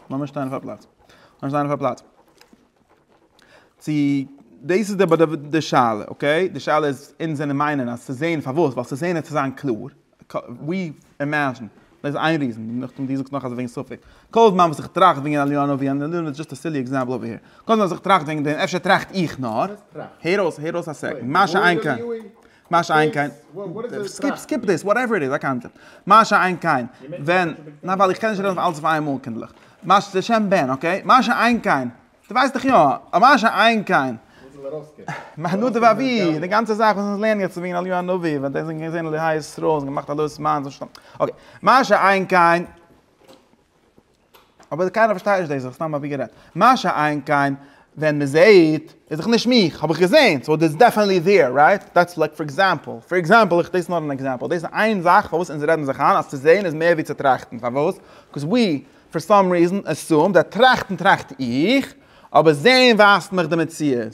לאמיר שטיין אויף א פלאץ. לאמיר שטיין אויף א פלאץ. צו דאס איז די שאלה, אקעי? די שאלה איז, אונז זענען מיינען אז צו זען, פארוואס? ווייל צו זען איז צו זיין קלאר. ווי אימעזשין. דאס איז איין ריזען. נאכדעם דו זאגסט נאך אז וועגן ספק. כל זמן וואס איך טראכט וועגן עליונה ווי אן עליונה איז דזשאסט א סילי עקזעמפל אויף היער. כל זמן וואס איך טראכט וועגן דעם אפשר טראכט איך נאר. הער אויס, הער אויס א סעקונד. מה שאין כן. מה שאין כן, סקיפ סקיפ דיס, וואטעווער איט איז, א קאנצעפט, מה שאין כן ווען, ניין ווייל איך קען נישט רעדן אויף אלעס אויף איינמאל קינדליך, מה ש, לשם בן אקעי, מה שאין כן, דו ווייסט דאך יא, א מה שאין כן, מהנדב אבי, די גאנצע זאך וואס אונז לערנען יעצט וועגן אליהו הנביא, ווען די זענען געווען אלהי ישראל, זיי האבן געמאכט א לוי'ס מיינדס, אקעי, מה שאין כן. אבער קיינער פארשטייט נישט דאס, איך סתם אבי גערעדט. מה שאין כן, ווען מען זעהט, איז דאך נישט מיך, האב איך געזעהן, סאו דאס איז דעפענעטלי דיר, רייט? דעטס לייק פאר עקזעמפל, פאר עקזעמפל, איך, דאס איז נאר אן עקזעמפל, דאס איז איין זאך פארוואס אונז רעדן זיך איין אז צו זעהן איז מער ווי צו טראכטן, פארוואס? קאוז ווי, פאר סאם ריזען, עסום דעט טראכטן טראכט איך, אבער זעהן ווייזט מיך די מציאות.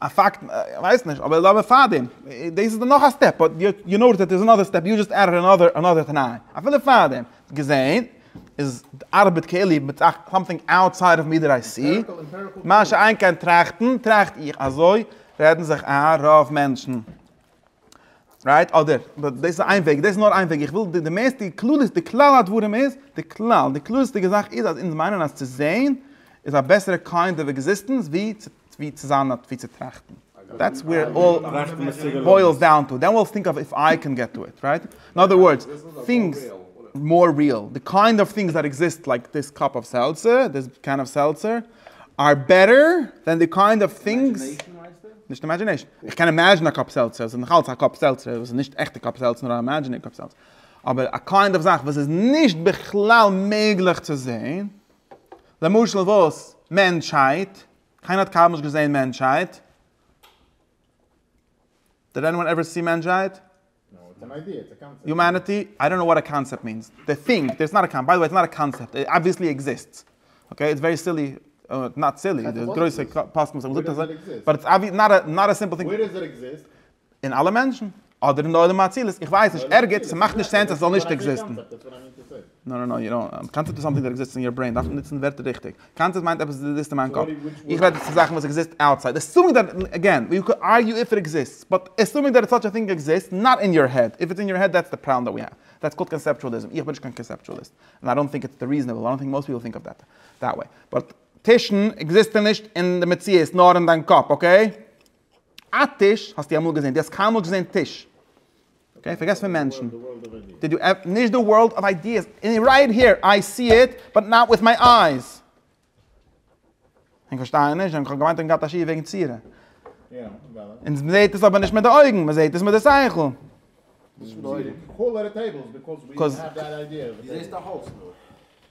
א פאקט, איך ווייס נישט, אבער אבער פארדעם, דאס איז דאך נאך א סטעפ, באט יו נאוטעס דעט איז אנאדער סטעפ, יו דזשאסט עדעד אנאדער אנאדער תנאי, אפילו פארדעם, געזען, איז די ארבעט כאילו מיט זאכן סאמטינג אוטסייד אוו מי דעט איי סי, מה שאין כן טראכטן, טראכט איך, אזוי רעדן זיך איין רוב מענטשן, רייט? אדער, דאס איז איין וועג, דאס איז נאר איין וועג, איך וויל די מערסטע די כללית די כלל הדברים איז, די כלל, די כללית'דיגע זאך איז אז אונז מיינען אז צו זעהן איז א בעסערע קיינד אוו עקזיסטענס ווי ווי צו זיין אט ווי צו טראכטן. דעטס וועיר איט אלל בוילס דאון טו, דען וויל טינק אוו איף איי קען געט טו איט, רייט? און אדער ווארדס, טינגס מאר ריעל, די קיינד אוו טינגס דעט עקזיסט לייק דיס קאפ אוו סעלטצער, דיס קען אוו סעלטצער. אר בעטער דען די קיינד אוו טינגס, נישט אימעדזשינעישן, איך קען אימעדזשינען א קאפ סעלצער, עס איז נאכאלץ א קאפ סעלצער, וואס איז נישט עכטע קאפ סעלצער נאר א אימעדזשינער קאפ סעלצער, אבער א קיינד אוו זאך וואס איז נישט בכלל מעגליך צו זעהן, למשל וואס? מענטשהייט, קיינער האט קיינמאל נישט געזעהן מענטשהייט, דיד עניוואן עווער סי מענטשהייט? יומעניטי? איי דאנט נאו וואט א קאנצעפט מיענס. דעי טינק דעיס נאט א קאנ. ביי די וועי איטס נאט א קאנצעפט. איט אבוויעסלי עקזיסטס. אקעי? איטס ווערי סילי. נאט סילי. די גרויסע פאסטמאן האבן געזאגט אזוי. באט איטס אבווי. נאט א. נאט א סימפל טינג. ווער דאס איט עקזיסט? אין אלע מענטשן. אדער אין די עולם האצילות. איך ווייס נישט. ערגעץ. ס'מאכט נישט סענס אז ס'זאל נישט עקזיסטן. נאו נאו נאו יו דאנט האב, קאנצעפט איז סאמטינג דעט עקזיסטס אין יור ברעין, דארפסט נוצן ווערטער ריכטיג, קאנצעפט מיינט עפעס וואס עקזיסט אין מיין קאפ, איך רעד פון זאכן וואס עקזיסט אוטסייד, עסומינג דעט, אגעין, יו קען ארגיו איף איט עקזיסטס, באט עסומינג דעט סאטש א טינג עקזיסט נאט אין יור העד, איף איטס אין יור העד דעטס די פראבלעם דעט ווי העוו, דעטס קאלד קאנסעפטואליזם, איך בין נישט קיין קאנסעפטואליסט, און איי דאנט טינק איטס די ריזענעבל, איי דאנט טינק מאסט פיפל טינק אוו דעט דעט וועי, באט טישן עקזיסטען נישט אין די מציאות נאר אין דיין קאפ, אקעי? א טיש האסטו אמאל געזעהן? דו האסט קיינמאל געזעהן טיש? אקעי פארגעס פון מענטשן. די דו עפ נישט די ווארלד אוו איידיעס. אין רייט היער איי סי איט באט נאט וויט מיי אייז. ענק פארשטייען נישט, ענק האבן געמיינט ענק געהאט א שיעור וועגן צירה. אונז מ'זעהט עס אבער נישט מיט די אויגן, מ'זעהט עס מיט די שכל. וויאזוי זעהסטו א הויז?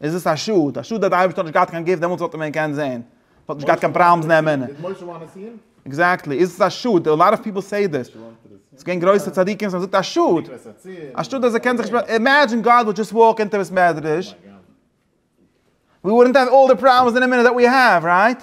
איז עס א שאד, א שאד אז די אייבערשטער האט נישט געהאט קיין גוף דעמאלטס וואלט מען קענען זען, וואלט נישט געהאט קיין פראבלעמס נעמען, עקזעקטלי, איז עס א שאד, א לאט אוו פיפל סעי דעס, עס געווען גרויסע צדיקים וואס האבן געזאגט א שאד, א שאד אז ער קען זיך נישט, אימעדזשין גאד וואלט דזשאסט וואלק אינטו ביס מעדרעש, ווי וואלדנט האוו אלל די פראבלעמס און די מינע דעט ווי האוו, רייט?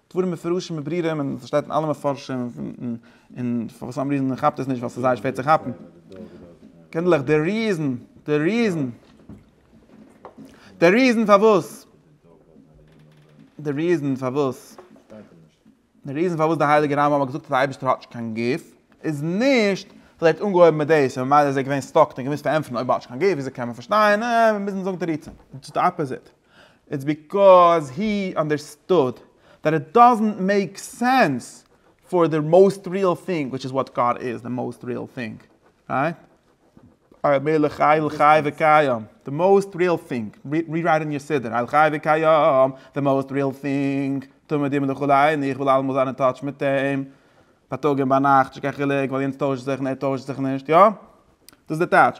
דברים מפורשים בברירה און עס שטייט אין אלע מפרשים און פאר וואס סאם ריזען כאפט עס נישט ווייל ס'איז זייער שווער צו כאפן קינדלעך די ריזען די ריזען די ריזען פארוואס די ריזען פארוואס די ריזען פארוואס די הייליגע רמב ם האט געזאגט אז די אייבערשטער האט נישט קיין גוף איז נישט ווייל ער האט אנגעהויבן מיט דאס און ממילא איז ער געווען סטאק און געמוזט פארענטפערן אויב האט נישט קיין גוף וויאזוי קען מען פארשטיין און מיר מוזן זאגן תירוצים איטס די אפאזיט. איטס ביקאוז הי אנדערסטוד דעט איט דאזענט מעיק סענס פאר די מאוסט ריעל טינג וויטש איז וואט גאד איז די מאוסט ריעל טינג רייט אויב מיר אלע חי אל חי וקיים די מאוסט ריעל טינג רירייט אין יור סידור אל חי וקיים די מאוסט ריעל טינג תמיד דימען די חול עיני איך וויל אלעמאל זיין אין טאטש מיט אים בייטאג און ביינאכט נישט קיין חילוק ווייל יענץ טוישט זיך און ער טוישט זיך נישט יא דאס איז די טייטש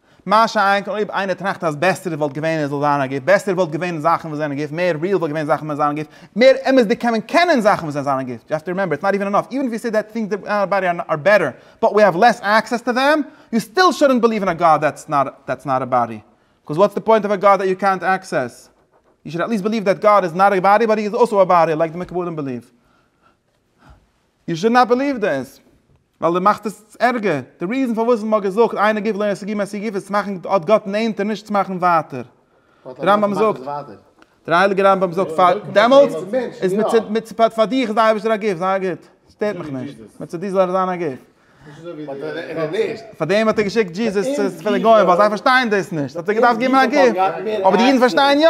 מה שאין כן אויב איינער טראכט אז בעסער וואלט געווען עס זאל זיין א גוף, בעסער וואלט געווען זאכן וואס זענען גוף, מער ריעל וואלט געווען זאכן ווען זיין א גוף, מער אמת'דיג קען מען קענען זאכן וואס זענען זיין א גוף, יו העוו טו רימעמבער איטס נאט איווען ענאף, איווען איף יו סעי דעט טינגס אין אווער באדי אר בעטער, באט ווי העוו לעס עקסעס טו דעם, יו סטיל שודענט ביליוו אין א גאד דעטס נאט דעטס נאט א באדי, קאז וואטס די פוינט אוו א גאד דעט יו קענט עקסעס, יו שוד עט ליסט ביליוו דעט גאד איז נאט א באדי באט הי איז אלסאו א באדי לייק די מקובלים ביליוו. יו שוד נאט בעליוו דעס. ווייל דו מאכסט עס ערגער. די ריזען פארוואס מען האט געזאגט איינער גיב לעי עסי ג מעשי ג איז צו מאכן אט גאט נענטער נישט צו מאכן ווייטער. דער רמב ם זאגט. דער הייליגער רמב ם זאגט פאר דעמאלטס איז מצד פאר דיך איז די אייבערשטער א גיף, זיי א גוט. סטערט מיך נישט. מצד דיר זאל ער זיין א גיף. פארדעם האט ער געשיקט דזשיזעס צו די גוים ווייל זיי פארשטייען דאס נישט האט ער געדארפט גיבן א גיף. אבער די אידן פארשטייען יא.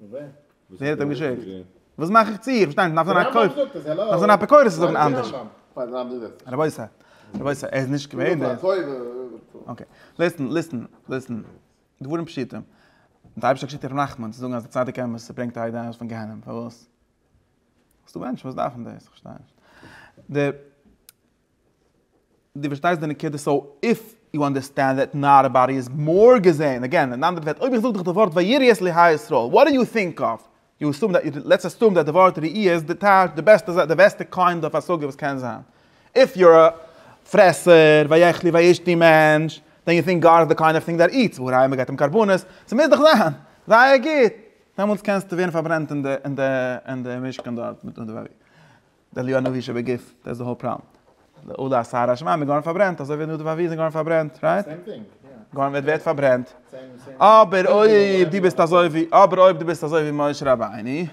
ווער האט אים געשיקט? וואס מאך איך צו? איך פארשטיי נישט, מ'דארף זיין א כופר, מ'דארף זיין א אפיקורס צו זאגן אנדערש. רבותי, רבותי, ער איז נישט געווען דער. אקעי, ליסטן, ליסטן, ליסטן, דברים פשוטים. דער אייבערשטער האט געשיקט ר' נחמן צו זאגן אז א צדיק אמת ברענגט א איד ארויס פון גיהנום, פארוואס? ס'דא מענטשן וואס דארפן דאס, איך פארשטיי נישט. די. דו פארשטייסט די נקודה? סאו איף יו אנדערסטענד דעט נאט עוועריבאדי איז מור געזעהן, אגעין אין אנדערע ווערטער אויב איך זאג דיך די ווארט ויראי את אלהי ישראל וואט די יו טינק אף? יו אסום דעט, לעטס אסום דעט די ווארט ראי' איז די טייטש, די בעסטע זאך, די בעסטע קאינד אויף השגה וואס קען זיין. איף יו אר א פרעסער, ויאכלי וישתי מענטש, דען יו טינק גאט איז די קאינד אויף טינג דעט איטס, והא ראי' מ'געט אים קרבנות, ס'מוז דאך זיין זייער גוט, דעמאלטס קענסטו ווערן פארברענט אין די אין די אין די משכן דארט מיט די ווערי. דעליו הנביא שבגוף, דעטס די האול פראמט. לאולא אסר השמים איז געווארן פארברענט אזוי ווי נדב הנביא איז געווארן פארברענט, רייט? גארן וועט ווערט פארברענט. אבער אויב דו ביסט אזוי ווי אבער אויב דו ביסט אזוי ווי משה רבינו,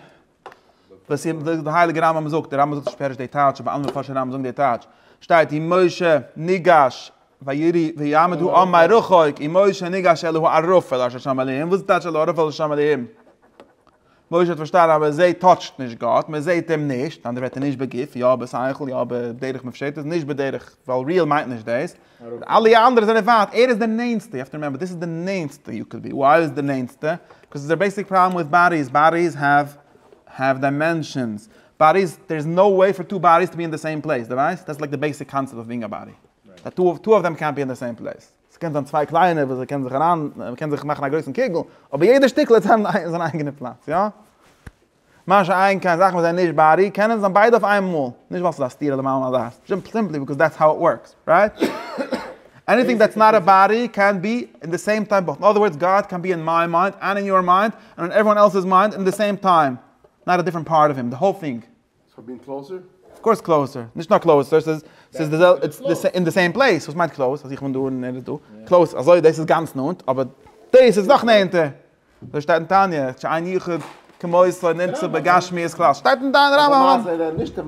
וואס איז וואס די הייליגע רמב ם זאגט, די רמב ם זאגט נישט פערש די טייטש אבער אנדערע מפרשי רמב ם זאגן די טייטש, שטייט און משה ניגש וירי ויעמד הוא און מרחוק און משה ניגש אל ההוא ערפל אשר שם עליהם, וואס איז די טייטש אל הערפל אשר שם עליהם? משה האט פארשטאנען אז מען זעהט טאטשט נישט גאט, מען זעהט אים נישט, אנדערע ווערטער נישט בגוף, יא בשכל, יא בדרך מופשטת, נישט בדרך, ווייל ריעל מיינט נישט דאס, אלע אנדערע זענען ווייט, ער איז די נענסטע, יו האוו טו רימעמבער, דאס איז די נענסטע, יו קען בי, וויי איז עס די נענסטע? קאוז דער בעיסיק פראבלעם וויט באדיס, באדיס העוו העוו דיימענשאנס, באדיס, דער איז נאו וועי פאר טו באדיס טו בי אין די סעים פלעיס, דו ווייסט? דעטס לייק די בעיסיק קאנצעפט אוו בינג א באדי, טו אוו טו אוו דעם קענט בי אין די סעים פלעיס. ס'קען זיין צוויי קליינע וואס זיי קענען זיך אריין, מ'קען זיך מאכן א גרויסן קוגל, אבער יעדע שטיקל האט זיין זיין אייגענע פלאץ, יא? מה שאין כן זאכן וואס זענען נישט בארי, קענען זיין ביידע אויף איין מאל, נישט ווייל ס'איז א סתירה למעלה מדעת, זשאמפ סימפלי ביקאוז דעטס האו איט ווארקס, רייט? עניטינג דעטס נאט א בארי קען בי אין די סעים טיים באוט, אין אדער ווארדס גאט קען בי אין מיי מיינד, ענד אין יור מיינד, ענד אין עוועריוואן עלס'ס מיינד אין די סעים טיים, נאט א דיפרענט פארט אוו הים, די האול טינג ס'האט בין קלאוזער? אויף קאורס קלאוזער, נישט נאר קלאוזער, ס'איז ס'איז די זעלבע, איטס אין די סעים פלעיס, וואס מיינט קלאוז? אז איך בין דא און ער איז דא? קלאוז אזוי דאס איז גאנץ נאנט, אבער דאס איז נאך נענטער! אזוי שטייט אין תניא, שאין יחוד כמותו נמצא בגשמיות כלל, שטייט אין דיין רמב ם.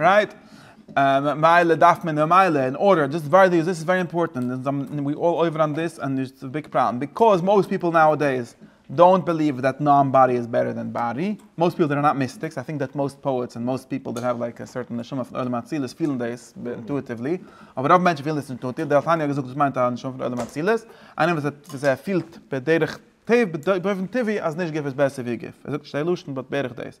רייט? ממילא דארף מען ממילא אין ארדער דאס ווארט איז דאס איז ווערי אימפארטענט און זיי ווי אלל אויווער אן דיס און איטס א ביג פראבלעם ביקאוז מאוסט פיפעל נאו דעיס דאונט בעליוו דעט נאן באדי איז בעטער דען באדי מאוסט פיעל זענען נאט מיסטיקס איי טינק דעט מאוסט פאעטס און מאוסט פיפעל דעט העוו לייק א סערטען נשמה פון עולם האצילות פילן דעיס אינטואיטיוולי אבער רוב מענטשן פילן דאס אינטואיטיוו דער תניא האט געזאגט וואס מיינט א נשמה פון עולם האצילות איינער וואס האט וואס ער פילט בדרך טבע באופן טבעי אז נישט גוף איז בעסער ווי גוף ער זאגט נישט די לשון באט בערך דעיס.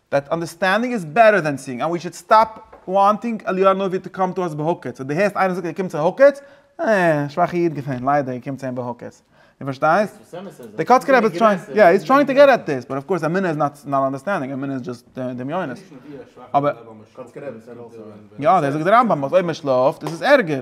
דעט אנדערסטענדינג איז בעטער דען סיאינג, ענד ווי שוד סטאפ וואנטינג עליון נאר ווי טו קאם טו אס בהוקץ, אויב דו הערסט איינער זאגט ער קומט צו הוקץ, אה, שוואכע איד געווען, ליידער, ער קומט צו אים בהוקץ. דו פארשטייסט? דער קאצקער רבי איז טרייענג, יא, איז טרייענג טו געט עט דיס, באט אף קאורס אמונה איז נאט נאט אנדערסטענדינג, אמונה איז דזשאסט דמיונות. אבער. יא, דאס זאגט דער רמב ם אז אויב מען שלאפט איז עס ערגער.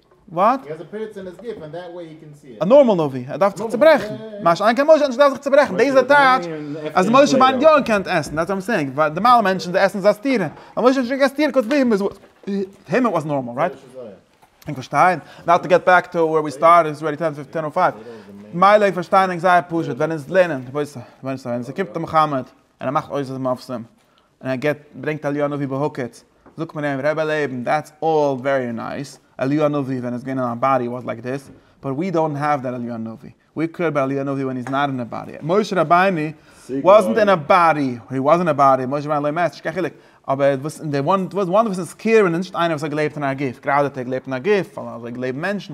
וואט? א נארמאל נביא, ער דארף זיך צוברעכן. מה שאין כן משה, ער דארף זיך צוברעכן. דאס איז די טייטש אז משה מיינט יא ער קען עסן. דעטס וואט איים סעינג. ווייל נארמאלע מענטשן זיי עסן איז א סתירה. ווייל משה האט נישט געגעסן סתירה קודם הים איז וואס נארמאל, רייט? ענק פארשטיין. נאו טו געט בעק טו ווער ווי סטארטעד, איטס ארעדי טען טען און פייוו. מילא ענק פארשטיין ענק זייער פשוט ווען אונז לערנען, רבותי, ווען עס קומט צו מוחמד און ער מאכט אויס אז מ'איז מפורסם. און ער געבט ברענגט אליהו הנביא בהוקץ, זאגט מען אים, רבי לעבן, דעטס אלל ווערי נייס, אליהו הנביא ווען ער איז געווען אין א באדי וואס לייק דיס, באט ווי דאנט האוו דעט אליהו הנביא, ווי קעיר אבאוט אליהו הנביא ווען היז נאט אין א באדי, משה רבינו וואזנט אין א באדי, הי וואזנט אין א באדי, משה רבינו לא מעט, נישט קיין חילוק, אבער וואס אין די וואנט וואס איז קעיר ווען איז נישט איינער וואס האט געלעבט אין א גוף, גראדע האט ער געלעבט אין א גוף, ווייל אזוי לעבן מענטשן,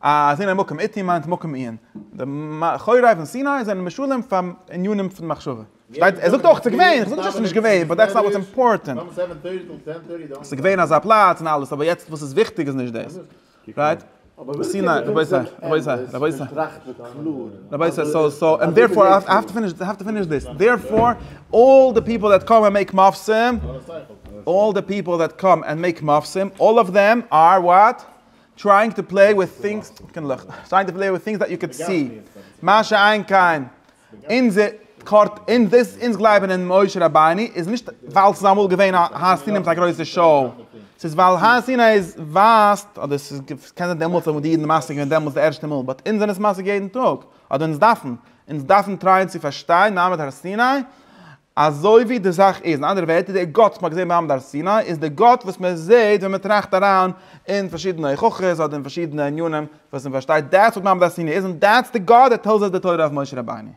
אז אין א מקום איתי מיינט מקום עיון. די מאחורי פון סיני זענען משלים פאר ענינים פון מחשבה. פארשטייט? ער זאגט אויך ס'געווען, איך זאג נישט אז ס'נישט געווען, באט דעטס נאט וואטס אימפארטענט. ס'געווען אזא פלאץ און אלעס, אבער יעצט וואס איז וויכטיג איז נישט דאס. רייט? סיני, רבותי, רבותי, רבותי. רבותי, סאו, סאו, ענד דערפאר, איי האב טו פיניש, האב טו פיניש דיס. דערפאר, אלל די פיפל דעט קאם ענד מעיק מופסים, אלל די פיפל דעט קאם ענד מעיק מופסים, אלל אוו דעם אר וואט? טרייאינג טו פלעי וויט טינגס דעט יו קען סי, מה שאין כן אונזער קארט, אונז גלייבן אין משה רבינו איז נישט ווייל ס'איז אמאל געווען א הר סיני מיט א גרויסע שוהל, ס'איז ווייל הר סיני איז ווייזט, אדער ס'איז קען זיין דעמאלטס האבן די אידן משיג געווען דעמאלטס די ערשטע מאל, באט אונז זענען עס משיג יעדן טאג, אדער אונז דארפן, אונז דארפן טרייען צו פארשטיין מעמד הר סיני, אזוי ווי די זאך איז, אין אנדערע ווערטער, דער גאט וואס מען האט געזען במעמד הר סיני, איז דער גאט וואס מען זעט ווען מען טראכט אריין אין פארשידענע הוכחות אדער אין פארשידענע ענינים וואס מען פארשטייט דעטס וואט מעמד הר סיני איז און דעטס די גאד דעט טעלס אס די תורה אויף משה רבינו.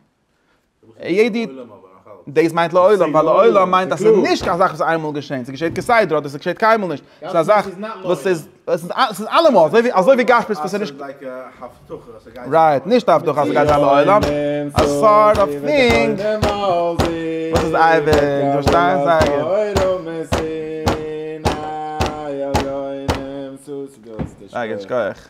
דאס מיינט לעולם ווייל לעולם מיינט אז ס'איז נישט קיין זאך וואס איינמאל געשען, ס'געשעט כסדר אדער ס'געשעט קיינמאל נישט, ס'איז א זאך וואס איז, ס'איז אלעמאל אזוי, אזוי ווי גשמיות וואס איז נישט, רייט, נישט א הבטחה אז ס'גייט זיין לעולם, א סארט אוו טינג וואס איז אייביג, פארשטייסט? זייער גוט, שכוח.